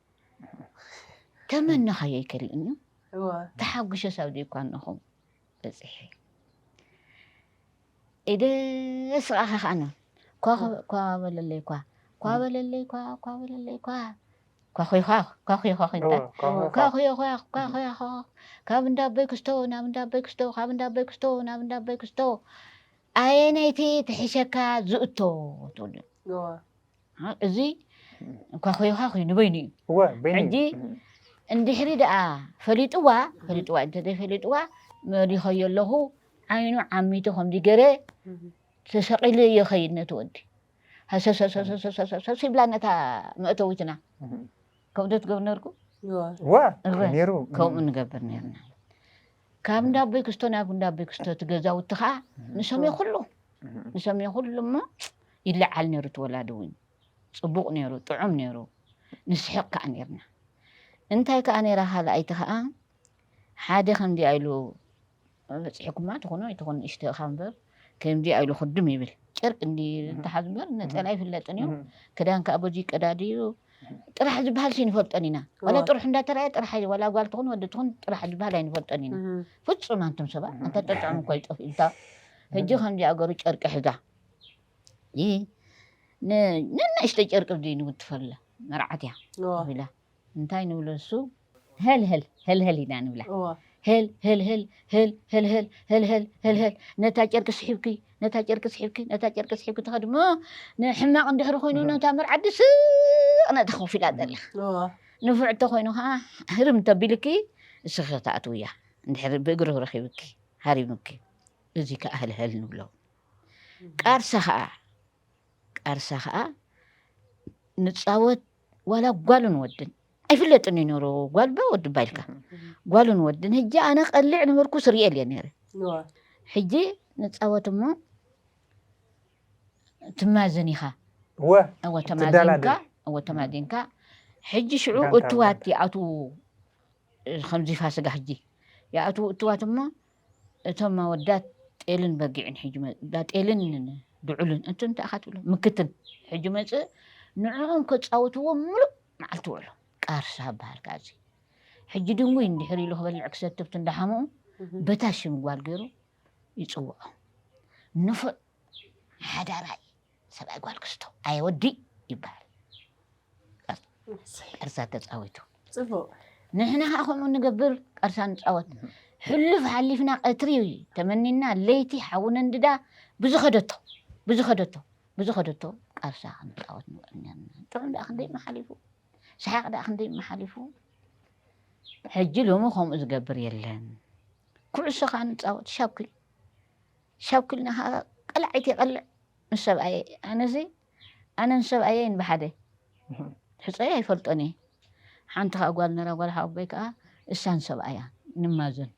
ተመና ሃየይ ከሪኡኒ ተሓጒሸ ሳብ ዘይኳንኹም በፂሒ ኢደ ስቃኸ ከዓነ ኳ በለለይ ኳ ኳ በለለይ ኳ ኳ በለለይ ኳ ካብ እንዳበይ ክስቶ ናብ እንዳበይ ክስቶ ካብ እንዳበይ ክስቶ ናብ እንዳበይ ክስቶ ኣየነይቲ ትሕሸካ ዝእቶ ትብሉ እዚ እኳ ኮይኻ ኮይ ንበይኑ እዩ ሕጂ እንድሕሪ ደኣ ፈሊጥዋ ፈሊጥዋ እንተዘይ ፈሊጥዋ መሪኸዮ ኣለኹ ዓይኑ ዓሚቱ ከምዚ ገረ ተሰቂሉ ይኸይድ ነቲ ወዲ ሃሰሰሰሰሰሰሰሰ ይብላ ነታ መእተዊትና ከምኡ ትገብር ነርኩ ከምኡ ንገብር ነርና ካብ እንዳ ኣቦይ ክስቶ ናብ እንዳ ኣቦይ ክስቶ እቲ ገዛውቲ ከዓ ንሰምዮ ኩሉ ንሰምዮ ኩሉ እሞ ይለዓል ነይሩ እቲ ወላዲ እውን ፅቡቕ ነይሩ ጥዑም ነይሩ ንስሕቕ ከዓ ነይርና እንታይ ከዓ ነይራ ካልኣይቲ ከዓ ሓደ ከምዚኣ ኢሉ በፂሕኩማ ትኹኑ ኣይትኹን ንእሽተኻ እምበር ከምዚ ኣኢሉ ክድም ይብል ጨርቂ እንዲ ተሓዙ እምበር ነፀላ ኣይፍለጥን እዩ ክዳን ከዓ በዚ ይቀዳድ እዩ ጥራሕ ዝበሃል ሲንፈልጠን ኢና ዋላ ጥሩሕ እንዳተረኣየ ጥራሕ ኣዩ ዋላ ጓል ትኹን ወዲ ትኹን ጥራሕ ዝበሃል ኣይንፈልጠን ኢና ፍፁም ኣንቱም ሰባ ኣንተ ጠጥዑም እኳ ይጠፍ ኢልታ ሕጂ ከምዚ ኣገሩ ጨርቂ ሕዛ ይ ንናእሽተ ጨርቂ ዘይንውትፈላ መርዓት እያ ኢላ እንታይ ንብሎ ንሱ ህልህል ህልህል ኢና ንብላ ህል ህልህል ህል ህልህል ህልህል ህልህል ነታ ጨርቂ ስሒብኪ ነታ ጨርቂ ስሒብኪ ነታ ጨርቂ ስሒብኪ ትኸዲ እሞ ንሕማቕ እንድሕሪ ኮይኑ ነታ መርዓዲ ስቕ ነታ ኮፍ ኢላ ዘላ ንፉዕ እንተኮይኑ ከዓ ህርም ተቢልኪ እስኺ ክትኣትው እያ እንድሕሪ ብእግሪ ረኺብኪ ሃሪምኪ እዚ ከዓ ህልህል ንብሎ ቃርሳ ከዓ ቃርሳ ከኣ ንጻወት ዋላ ጓልን ወድን ኣይፍለጥን እዩ ነይሩ ጓልባ ወድባ ኢልካ ጓልን ወድን ሕጂ ኣነ ቀሊዕ ነበርኩ ስርኤል እየ ነይረ ሕጂ ንጻወት እሞ ትማዝን ኢኻ እወ ተማዚንካ እወ ተማዚንካ ሕጂ ሽዑ እትዋት ይኣትዉ ከምዚ ፋስጋ ሕጂ ይኣትዉ እትዋት እሞ እቶም ኣወዳት ጤልን በጊዕን ሕጂ መ ዳ ጤልን ን ድዑልን እንት እንታይ ኢኻ ትብሎ ምክትን ሕጂ መጽእ ንዕኦም ከጻውትዎ ምሉእ መዓልቲ ውዕሎ ቃርሳ በሃል ከኣ እዚ ሕጂ ድንጉይ እንድሕር ኢሉ ክበልዕ ክሰትብት እንዳሓመኡ በታ ሽም ጓል ገይሩ ይጽውዖ ንፉዕ ሓዳራይ ሰብኣይ ጓል ክስቶ ኣየ ወዲ ይበሃል ቀርሳ ተፃዊቱ ፅቡቅ ንሕና ከዓ ከምኡ ንገብር ቀርሳ ንፃወት ሕሉፍ ሓሊፍና ቀትሪ ተመኒና ለይቲ ሓዊ ነንድዳ ብዝኸደቶ ብዝኸደቶ ብዝኸደቶ ቀርሳ ክንፃወት ንውዕል ነርና ጥዑም ደኣ ክንደይ መሓሊፉ ሰሓቅ ደኣ ክንደይ መሓሊፉ ሕጂ ሎሚ ከምኡ ዝገብር የለን ኩዕሶ ከዓ ንፃወት ሻኩል ሻውኪልና ከኣ ቀላዒት የቐልዕ ምስ ሰብኣየይ። ኣነሲ ኣነን ሰብኣየይን ብሓደ ሕጾየ ኣይፈልጦን እየ። ሓንቲ ከኣ ጓል ነይራ ጓል ሓወቦይ ከኣ እሳን ሰብኣያ ንማዘን።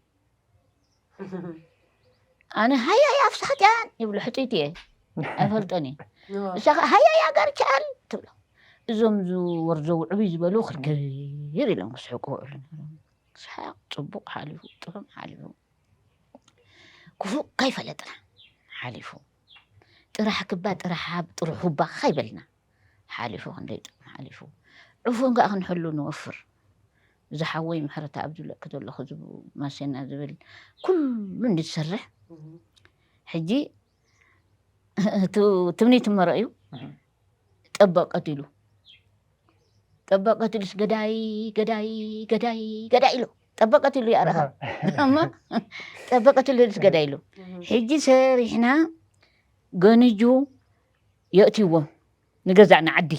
ኣነ ሃያይ ኣፍሳጢያን ይብሎ ሕጽይቲ እየ ኣይፈልጦን እየ። እሳ ከኣ ሃያይ ኣጋርቻኣል ትብሎ። እዞም ዝወርዘው ዕብይ ዝበሉ ክርክር ኢሎም ክስሕቁ ክውዕሉ ነይሮም። ሰሓቕ ጽቡቕ ሓሊፉ ጥዑም ሓሊፉ። ክፉእ ከይፈለጥና ሓሊፉ ጥራሕ ክባ ጥራሕ ሃብ ጥሩሕ ሁባ ከይበልና ሓሊፉ ክንደይ ጥቕሚ ሓሊፉ ዕፉን ከኣ ክንሕሉ ንወፍር እዚ ሓወይ ምሕረታ ኣብ ዝብለኪ ዘለኹ ማሴና ዝብል ኩሉ እንድሰርሕ ሕጂ ትምኒት መረእዩ ጠበቐ ድሉ ጠበቐ ድሉስ ገዳይ ገዳይ ገዳይ ገዳይ ኢሉ ጠበቐ ድሉ ይኣረኻ እሞ ጠበቐ ድሉስ ገዳይ ኢሉ ሕጂ ሰሪሕና ገንጁ የእትይዎ ንገዛእ ንዓዲ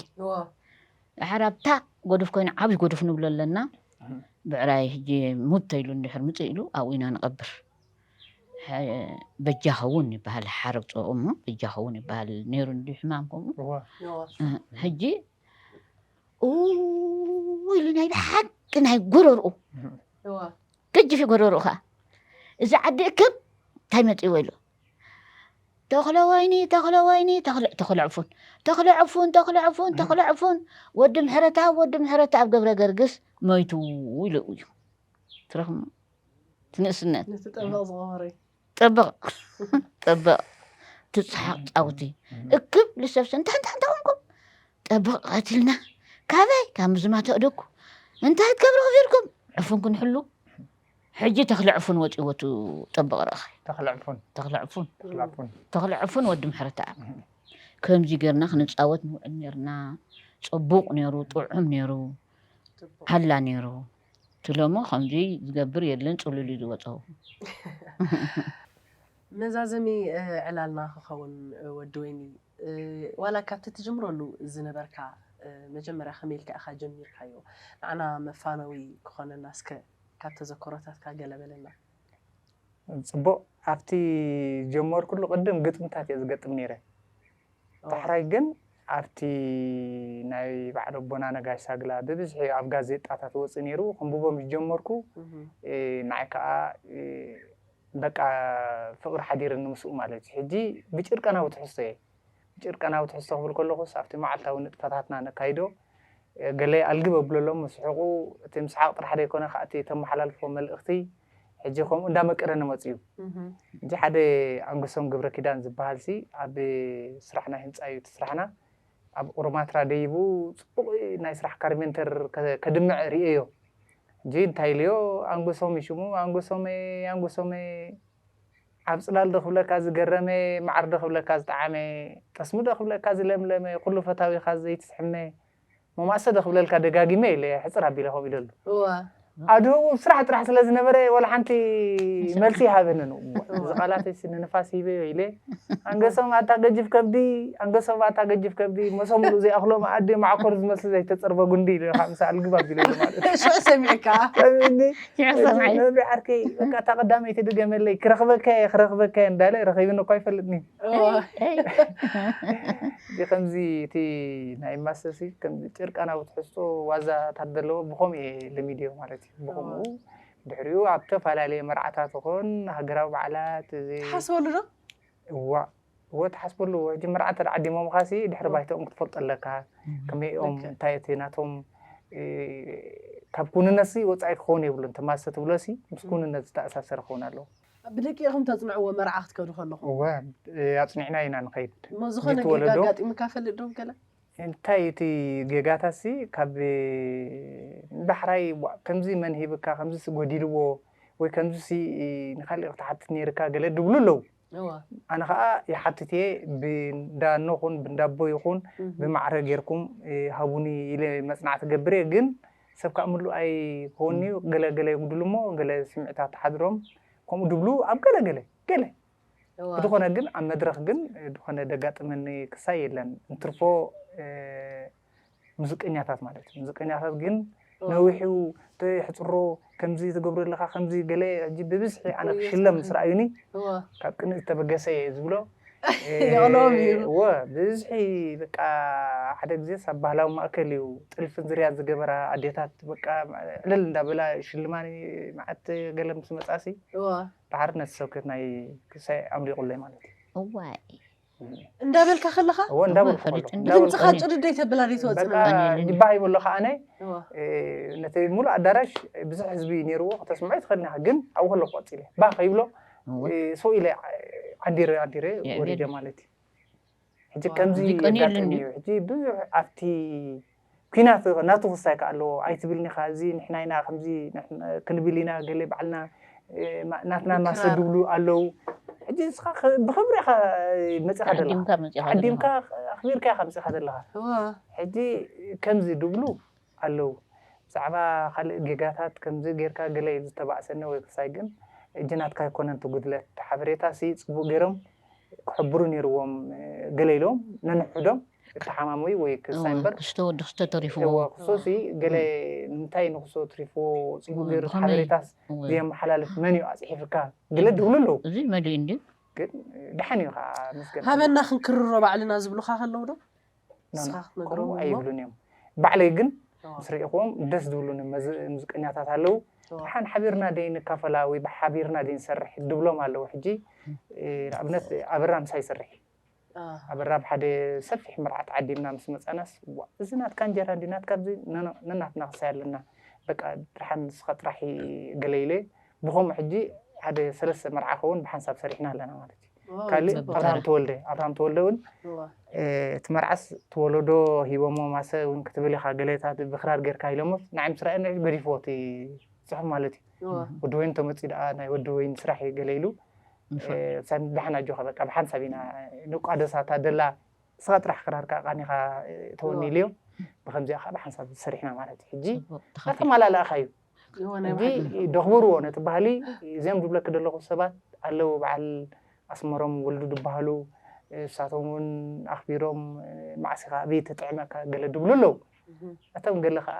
ድሓር ኣብታ ጎዱፍ ኮይኑ ዓብይ ጎዱፍ ንብሎ ኣለና ብዕራይ ሕጂ ሙተ ኢሉ እንድሕር ምፅእ ኢሉ ኣብኡ ኢና ንቐብር በጃኸውን ይበሃል ሓረግ ጨቑ እሞ በጃኸውን ይበሃል ነይሩ እንዲ ሕማም ከምኡ ሕጂ ኢሉ ናይ ብሓቂ ናይ ጎረርኡ ገጅፊ ጎረርኡ ከዓ እዚ ዓዲ እክብ እንታይ መፅዎ ኢሉ ተኽለ ወይኒ ተኽለ ወይኒ ተኽለ ዕፉን ተኽለ ዕፉን ተኽለ ዕፉን ተኽለ ዕፉን ወዲ ምሕረተኣብ ወዲ ምሕረተኣብ ገብረ ገርግስ ሞይቱ ኢሉ እዩ ትረኽሙ ትንእስነት ነቲ ጠበቕ ዝቐበረይ ጠበቕ ጠበቕ ትጽሓቕ ጫውቲ እክብ ልሰብሰ እንታይ እንታይ እንታይ ኮንኩም ጠበቕ ቀትልና ካበይ ካብ ምዝማ ተእደኩ እንታይ ትገብሩ ክፊርኩም ዕፉን ክንሕሉ ሕጂ ተኽለ ዕፉን ወፂዎ ቱ ጠበቕ ረእኸ ተኽለ ዕፉን ተኽለ ዕፉን ተኽለ ዕፉን ተኽለ ዕፉን ወዲ ምሕረተኣብ ከምዚ ጌርና ክንፃወት ንውዕል ነርና ፅቡቕ ነይሩ ጥዑም ነይሩ ሓላ ነይሩ ትለሞ ከምዚ ዝገብር የለን ጽሉል እዩ ዝወጸው። መዛዘሚ ዕላልና ክኸውን ወዲ ወይኒ ዋላ ካብቲ ትጅምረሉ ዝነበርካ መጀመርያ ከመይ ኢልካ ኢኻ ጀሚርካዮ ንዓና መፋነዊ ክኾነና እስከ ካብ ተዘክሮታትካ ገለ በለና። ጽቡቅ ኣብቲ ጀመርኩሉ ቅድም ግጥምታት እየ ዝገጥም ኔረ ዳሕራይ ግን ኣብቲ ናይ በዓል ኣቦና ነጋሽ ሳግላ ብብዝሒ ኣብ ጋዜጣታት ወጽእ ነይሩ ክንብቦ ምስ ጀመርኩ ንዓይ ከኣ በቃ ፍቕሪ ሓዲርኒ ምስኡ ማለት እዩ። ሕጂ ብጭርቀናዊ ትሕዝቶ እየ ብጭርቀናዊ ትሕዝቶ ክብል ከለኹስ ኣብቲ መዓልታዊ ንጥፈታትና ነካይዶ ገለ ኣልግብ ኣብለሎም ምስሕቑ እቲ ምስሓቕ ጥራሕ ዘይኮነ ከኣ እቲ እተመሓላልፎ መልእኽቲ ሕጂ ከምኡ እንዳመቀረ ንመጽ እዩ ሕጂ ሓደ ኣንግሶም ግብረ ኪዳን ዝበሃል ሲ ኣብ ስራሕ ናይ ህንጻ እዩ ትስራሕና ኣብ ኦሮማትራ ደይቡ ጽቡቅ ናይ ስራሕ ካርሜንተር ከድምዕ ርእዮ ሕጂ እንታይ ኢልዮ ኣንግሶም እዩ ሽሙ ኣንግሶመ ኣንግሶመ ኣብ ጽላል ዶ ክብለካ ዝገረመ ማዓር ዶ ክብለካ ዝጠዓመ ጠስሚ ዶ ክብለካ ዝለምለመ ኩሉ ፈታዊካ ዘይትስሕመ መማሰ ዶ ክብለልካ ደጋጊመ ኢለ ሕጽር ኣቢለ ከምኡ ኢለ ኣሉ እወ ኣድህቡ ስራሕ ጥራሕ ስለ ዝነበረ ወላ ሓንቲ መልሲ ይሃበንን እወ እዚ ቃላተይ ሲ ንንፋስ ሂበዮ ኢለ ኣንገሶም ኣታ ገጅፍ ከብዲ ኣንገሶም ኣታ ገጅፍ ከብዲ መሶ ምሉእ ዘይኣኽሎ መኣዲ ማዓኮር ዝመስል ዘይተጸርበ ጉንዲ ኢለ ከኣ ምሳኣ ልግብ ኣቢለ ኢሉ ማለት እዩ ሽዑ ሰሚዕካ ሰሚዕኒ ሽዑ ሰምዐ እዚ ነብሪ ዓርከይ በቃ እታ ቀዳመይቲ ድገመለይ ክረኽበካ እየ ክረኽበካ እየ እንዳለ ረኺብኒ እኳ ኣይፈልጥን እዩ እወ እዚ ከምዚ እቲ ናይ ማሰሲ ከምዚ ጭርቃናዊ ትሕዝቶ ዋዛ ታት ዘለዎ ብኸምኡ እየ ለሚደዮ ማለት እዩ ብኸምኡ ድሕሪኡ ኣብ ተፈላለየ መርዓታት ይኹን ሃገራዊ በዓላት እዚ ትሓስበሉ ዶ እዋእ እወ ትሓስበሉ እወ ሕጂ መርዓ እንተ ዓዲሞምኻ ሲ ድሕሪ ባይተኦም ክትፈልጦ ኣለካ ከመይ እዮም እንታይ እቲ ናቶም ካብ ኩንነት ሲ ወጻኢ ክኸውን የብሉን ተማሰ ትብሎ ሲ ምስ ኩንነት ዝተኣሳሰረ ክኸውን ኣለዎ ብደቂ ኢኹም ተጽንዕዎ መርዓ ክትከዱ ከለኹም። እወ ኣጽኒዕና ኢና ንኸይድ። እሞ ዝኾነ ጌጋ ወለዶ ኣጋጢሙካ ይፈልጥ ዶ ገለ? እንታይ እዩ እቲ ጌጋታትሲ ካብ ዳሕራይ ዋእ ከምዚ መን ሂብካ ከምዚሲ ጎዲልዎ ወይ ከምዚሲ ንካሊእ ክትሓትት ኔርካ ገለ ድብሉ ኣለዉ። እወ። ኣነ ከኣ ይሓትት እየ ብእንዳ እኖ ኹን ብእንዳ ኣቦ ይኹን እህ። ብማዕረ ጌርኩም ሃቡኒ ኢለ መጽናዕቲ እገብር እየ ግን ሰብ ከኣ ምሉእ ኣይኮንን'ዩ፣ ገለ ገለ ይጉድል'ሞ ገለ ስምዒታት ሓድሮም ከምኡ ድብሉ ኣብ ገለ ገለ ገለ ብዝኾነ ግን ኣብ መድረኽ ግን ዝኾነ ደጋጥመኒ ክሳይ የለን እንትርፎ ሙዝቀኛታት ማለት ሙዝቀኛታት ግን ነዊሕ'ዩ የሕጽሮ ከምዚ ትገብሮ ኣለኻ ከምዚ ገለ ሕጂ ብብዝሒ ኣነ ክሽለም ምስ ረኣዩኒ ካብ ቅንኢ ዝተበገሰ'የ ዝብሎ የቕልኦም እዩ። እወ ብዝሒ በቃ ሓደ ግዜስ ኣብ ባህላዊ ማእከል እዩ ጥልፍን ዝርያን ዝገበራ ኣዴታት በቃ ዕልል እንዳበላ ሽልማኒ መዓት ገለ ምስ መጻሲ እወ ድሓር ነቲ ሰብከት ናይ ክሳይ ኣምሊቑለይ ማለት እዩ እዋይ እንዳበልካ ከለኻ እወ እንዳበልኩ እወ፣ ከለኹ ፈሊጥ እንዳ- እንዳበልኩ ድምፅኻ ጭድድ ኣይተብላ ዘይትወፅእ በቃ ኣኒለኒ። ዲባ ሂበሎ ከዓ ኣነ እወ እ፣ ነቲ ሙሉእ ኣዳራሽ ብዙሕ ህዝቢ ነይርዎ ከተስምዖ ይትኽእል ኒኻ ግን ኣብኡ ከለኹ ቀፂለ ባህ ከይብሎ ሰው ኢለ ዓዲረ ዓዲረ ወሪደ ማለት እዩ ሕጂ ከምዚ የጋጥም እዩ ሕጂ ብዙሕ ኣብቲ ኩናት ናቱ ክሳይ ከዓ ኣለዎ ኣይትብልኒ ኢኻ እዚ ንሕና ኢና ከምዚ ክንብል ኢና ገለ ባዕልና ናትና ማሰ ድብሉ ኣለው ሕጂ ንስኻ ብኽብሪ ኢኻ መፂኻ ዘለኻ ዓዲምካ ኣኽቢርካ ኢኻ መፂኻ ዘለኻ ሕጂ ከምዚ ድብሉ ኣለዉ ብዛዕባ ካልእ ጌጋታት ከምዚ ጌርካ ገለ ኢዩ ዝተባእሰኒ ወይ ክሳይ ግን እጂ ናትካ ኣይኮነን እቲ ጉድለት ሓበሬታ ሲ ጽቡቅ ጌሮም ክሕብሩ ኔርዎም ገለ ኢሎም ነንሕሕዶም እተሓማመዩ ወይ ክሳይ እምበር እወ ክስቶ ወዲ ክስቶ ተሪፍዎ እወ ክሶ ሲ ገለ ንምንታይ ንክሶ ኣትሪፍዎ ጽቡቅ እወ ጌሩ ብከመይ ሓበሬታስ እወ ዘየመሓላልፍ መን ኢዩ ኣጽሒፍካ ገለ እወ ድብሉ ኣለዉ እዚ መሊኡ እንድዩ ግን ደሓን ኢዩ ከኣ መስገን ሃበና ክንክርሮ ባዕልና ዝብሉካ ከለዉ ዶ። ናና ከምኡ ኣይብሉን እዮም ባዕለይ ግን ምስ ርኢኹዎም ደስ ዝብሉኒ ሙዚቀኛታት ኣለዉ ሓን ሓቢርና ደይ ንካፈላ ወይ ሓቢርና ደይ ንሰርሕ ድብሎም ኣለዉ ሕጂ ንኣብነት ኣበራ ምሳ ይሰርሕ ኣበራ ኣብ ሓደ ሰፊሕ መርዓት ዓዲምና ምስ መፃናስ እዚ ናትካ እንጀራ እንዲ ናትካ ዚ ነናትና ክሳይ ኣለና በቃ ድሓን ንስኻ ጥራሕ ገለኢለ ብኸምኡ ሕጂ ሓደ ሰለስተ መርዓ ኸውን ብሓንሳብ ሰሪሕና ኣለና ማለት እዩ ካልእ ኣብርሃም ተወልደ ኣብርሃም ተወልደ እውን እቲ መርዓስ ተወለዶ ሂቦሞ ማሰ እውን ክትብል ኢኻ ገለታት ብክራር ጌርካ ኢሎሞ ንዓይ ምስ ረኣየ ንዕኡ ገዲፍዎ እቲ ፅሑፍ ማለት እዩ ወዲ ወይን ተመፅኡ ደኣ ናይ ወዲ ወይን ስራሕ እዩ ገለ ኢሉ ብሓን ኣጆኻ በቃ ብሓንሳብ ኢና ንቋደሳ እታ ደላ ንስኻ ጥራሕ ክራርካ ቃኒኻ ተወኒ ኢልዮ ብከምዚኣ ከዓ ብሓንሳብ ሰሪሕና ማለት እዩ ሕጂ ኣተማላልእኻ እዩ ሕጊ ደኽብርዎ ነቲ ባህሊ እዚኦም ዝብለኪ ዘለኹ ሰባት ኣለዉ በዓል ኣስመሮም ወልዱ ዝበሃሉ እሳቶም እውን ኣኽቢሮም መዓስ ኢኻ ኣብይ ተጥዕመካ ገለ ድብሉ ኣለዉ እቶም ገለ ከዓ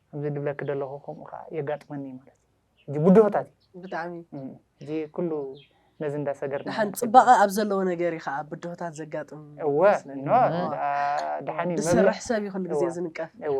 ከምዚ ድብለኪ ዘለኹ ከምኡ ከዓ የጋጥመኒ ማለት እዩ እዚ ብድሆታት እዩ ብጣዕሚ እዚ ኩሉ ነዚ እንዳሰገርና ደሓን ፅባቐ ኣብ ዘለዎ ነገር እዩ ከዓ ብድሆታት ዘጋጥም እወ ይመስለኒ። ኖ እወ፣ ደኣ- ደሓን እዩ መብልዕ- ዝሰርሕ ሰብ እዩ ኩሉ ግዜ እወ። ዝንቀፍ እወ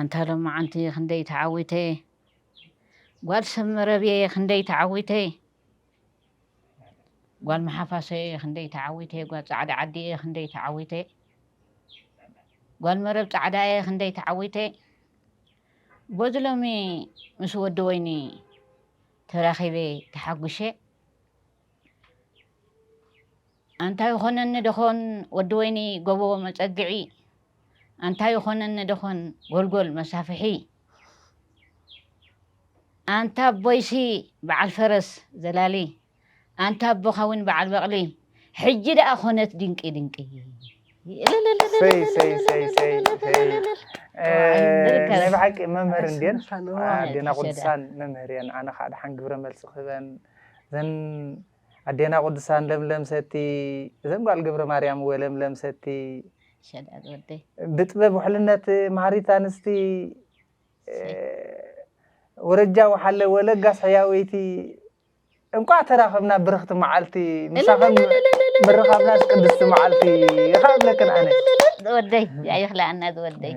ኣንታ ሎማዓንቲ ክንደይ ተዓዊተ ጓል ሰብ መረብየ ክንደይ ተዓዊተ ጓል መሓፋሰየ ክንደይ ተዓዊተ ጓል ፃዕዳ ዓዲየ ክንደይ ተዓዊተ ጓል መረብ ፃዕዳየ ክንደይ ተዓዊተ በዚ ሎሚ ምስ ወዲ ወይኒ ተራኺበ ተሓጒሸ ኣንታ ይኾነኒ ደኾን ወዲ ወይኒ ጎቦ መጸግዒ ኣንታ ይኾነኒ ደኾን ጎልጎል መሳፍሒ ኣንታ ኣቦይሲ በዓል ፈረስ ዘላሊ ኣንታ ኣቦኻዊን በዓል በቕሊ ሕጂ ደኣ ኾነት ድንቂ ድንቂ ሰይ ሰይ ሰይ ሰይ ሰይ እ፣ ናይ ብሓቂ መምህር እንድየን ኣዴና ቅዱሳን መምህር እየን ኣነ ከዓ ድሓን ግብረ መልሲ ክህበን እዘን ኣዴና ቅዱሳን ለምለም ሰቲ እዘን ጓል ገብረ ማርያም እወ ለምለም ሰቲ ሸዳድ ወደይ ብጥበብ ውሕልነት ማህሪት ኣንስቲ እ፣ ወረጃ ውሓለ ወለጋስ ሕያወይቲ እንቋዕ ተራኸብና ብርኽቲ መዓልቲ ምሳኸን ምርኻብናስ ቅድስቲ መዓልቲ ይኻ እብለክን ኣነ ዝወደይ ኣይኽላኣና ዝወደይ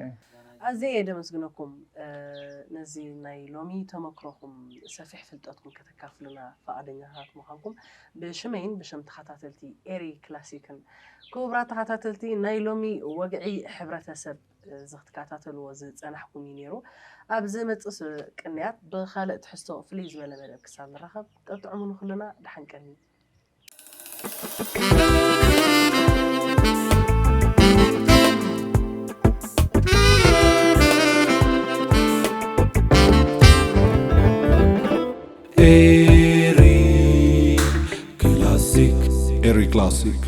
ኣዝየ እየ ደመስግነኩም ነዚ ናይ ሎሚ ተመክሮኹም ሰፊሕ ፍልጠትኩም ከተካፍሉና ፈቓደኛታት ምዃንኩም ብሽመይን ብሽም ተኸታተልቲ ኤሪ ክላሲክን ክቡራት ተኸታተልቲ ናይ ሎሚ ወግዒ ሕብረተሰብ እዚ ክትከታተልዎ ዝጸናሕኩም እዩ ነይሩ። ኣብ ዝመጽእ ቅንያት ብኻልእ ትሕዝቶ ፍልይ ዝበለ መደብ ክሳብ ንራኸብ ጠጥዑሙ ንኹልና ደሓን ቀንዩ። Classic.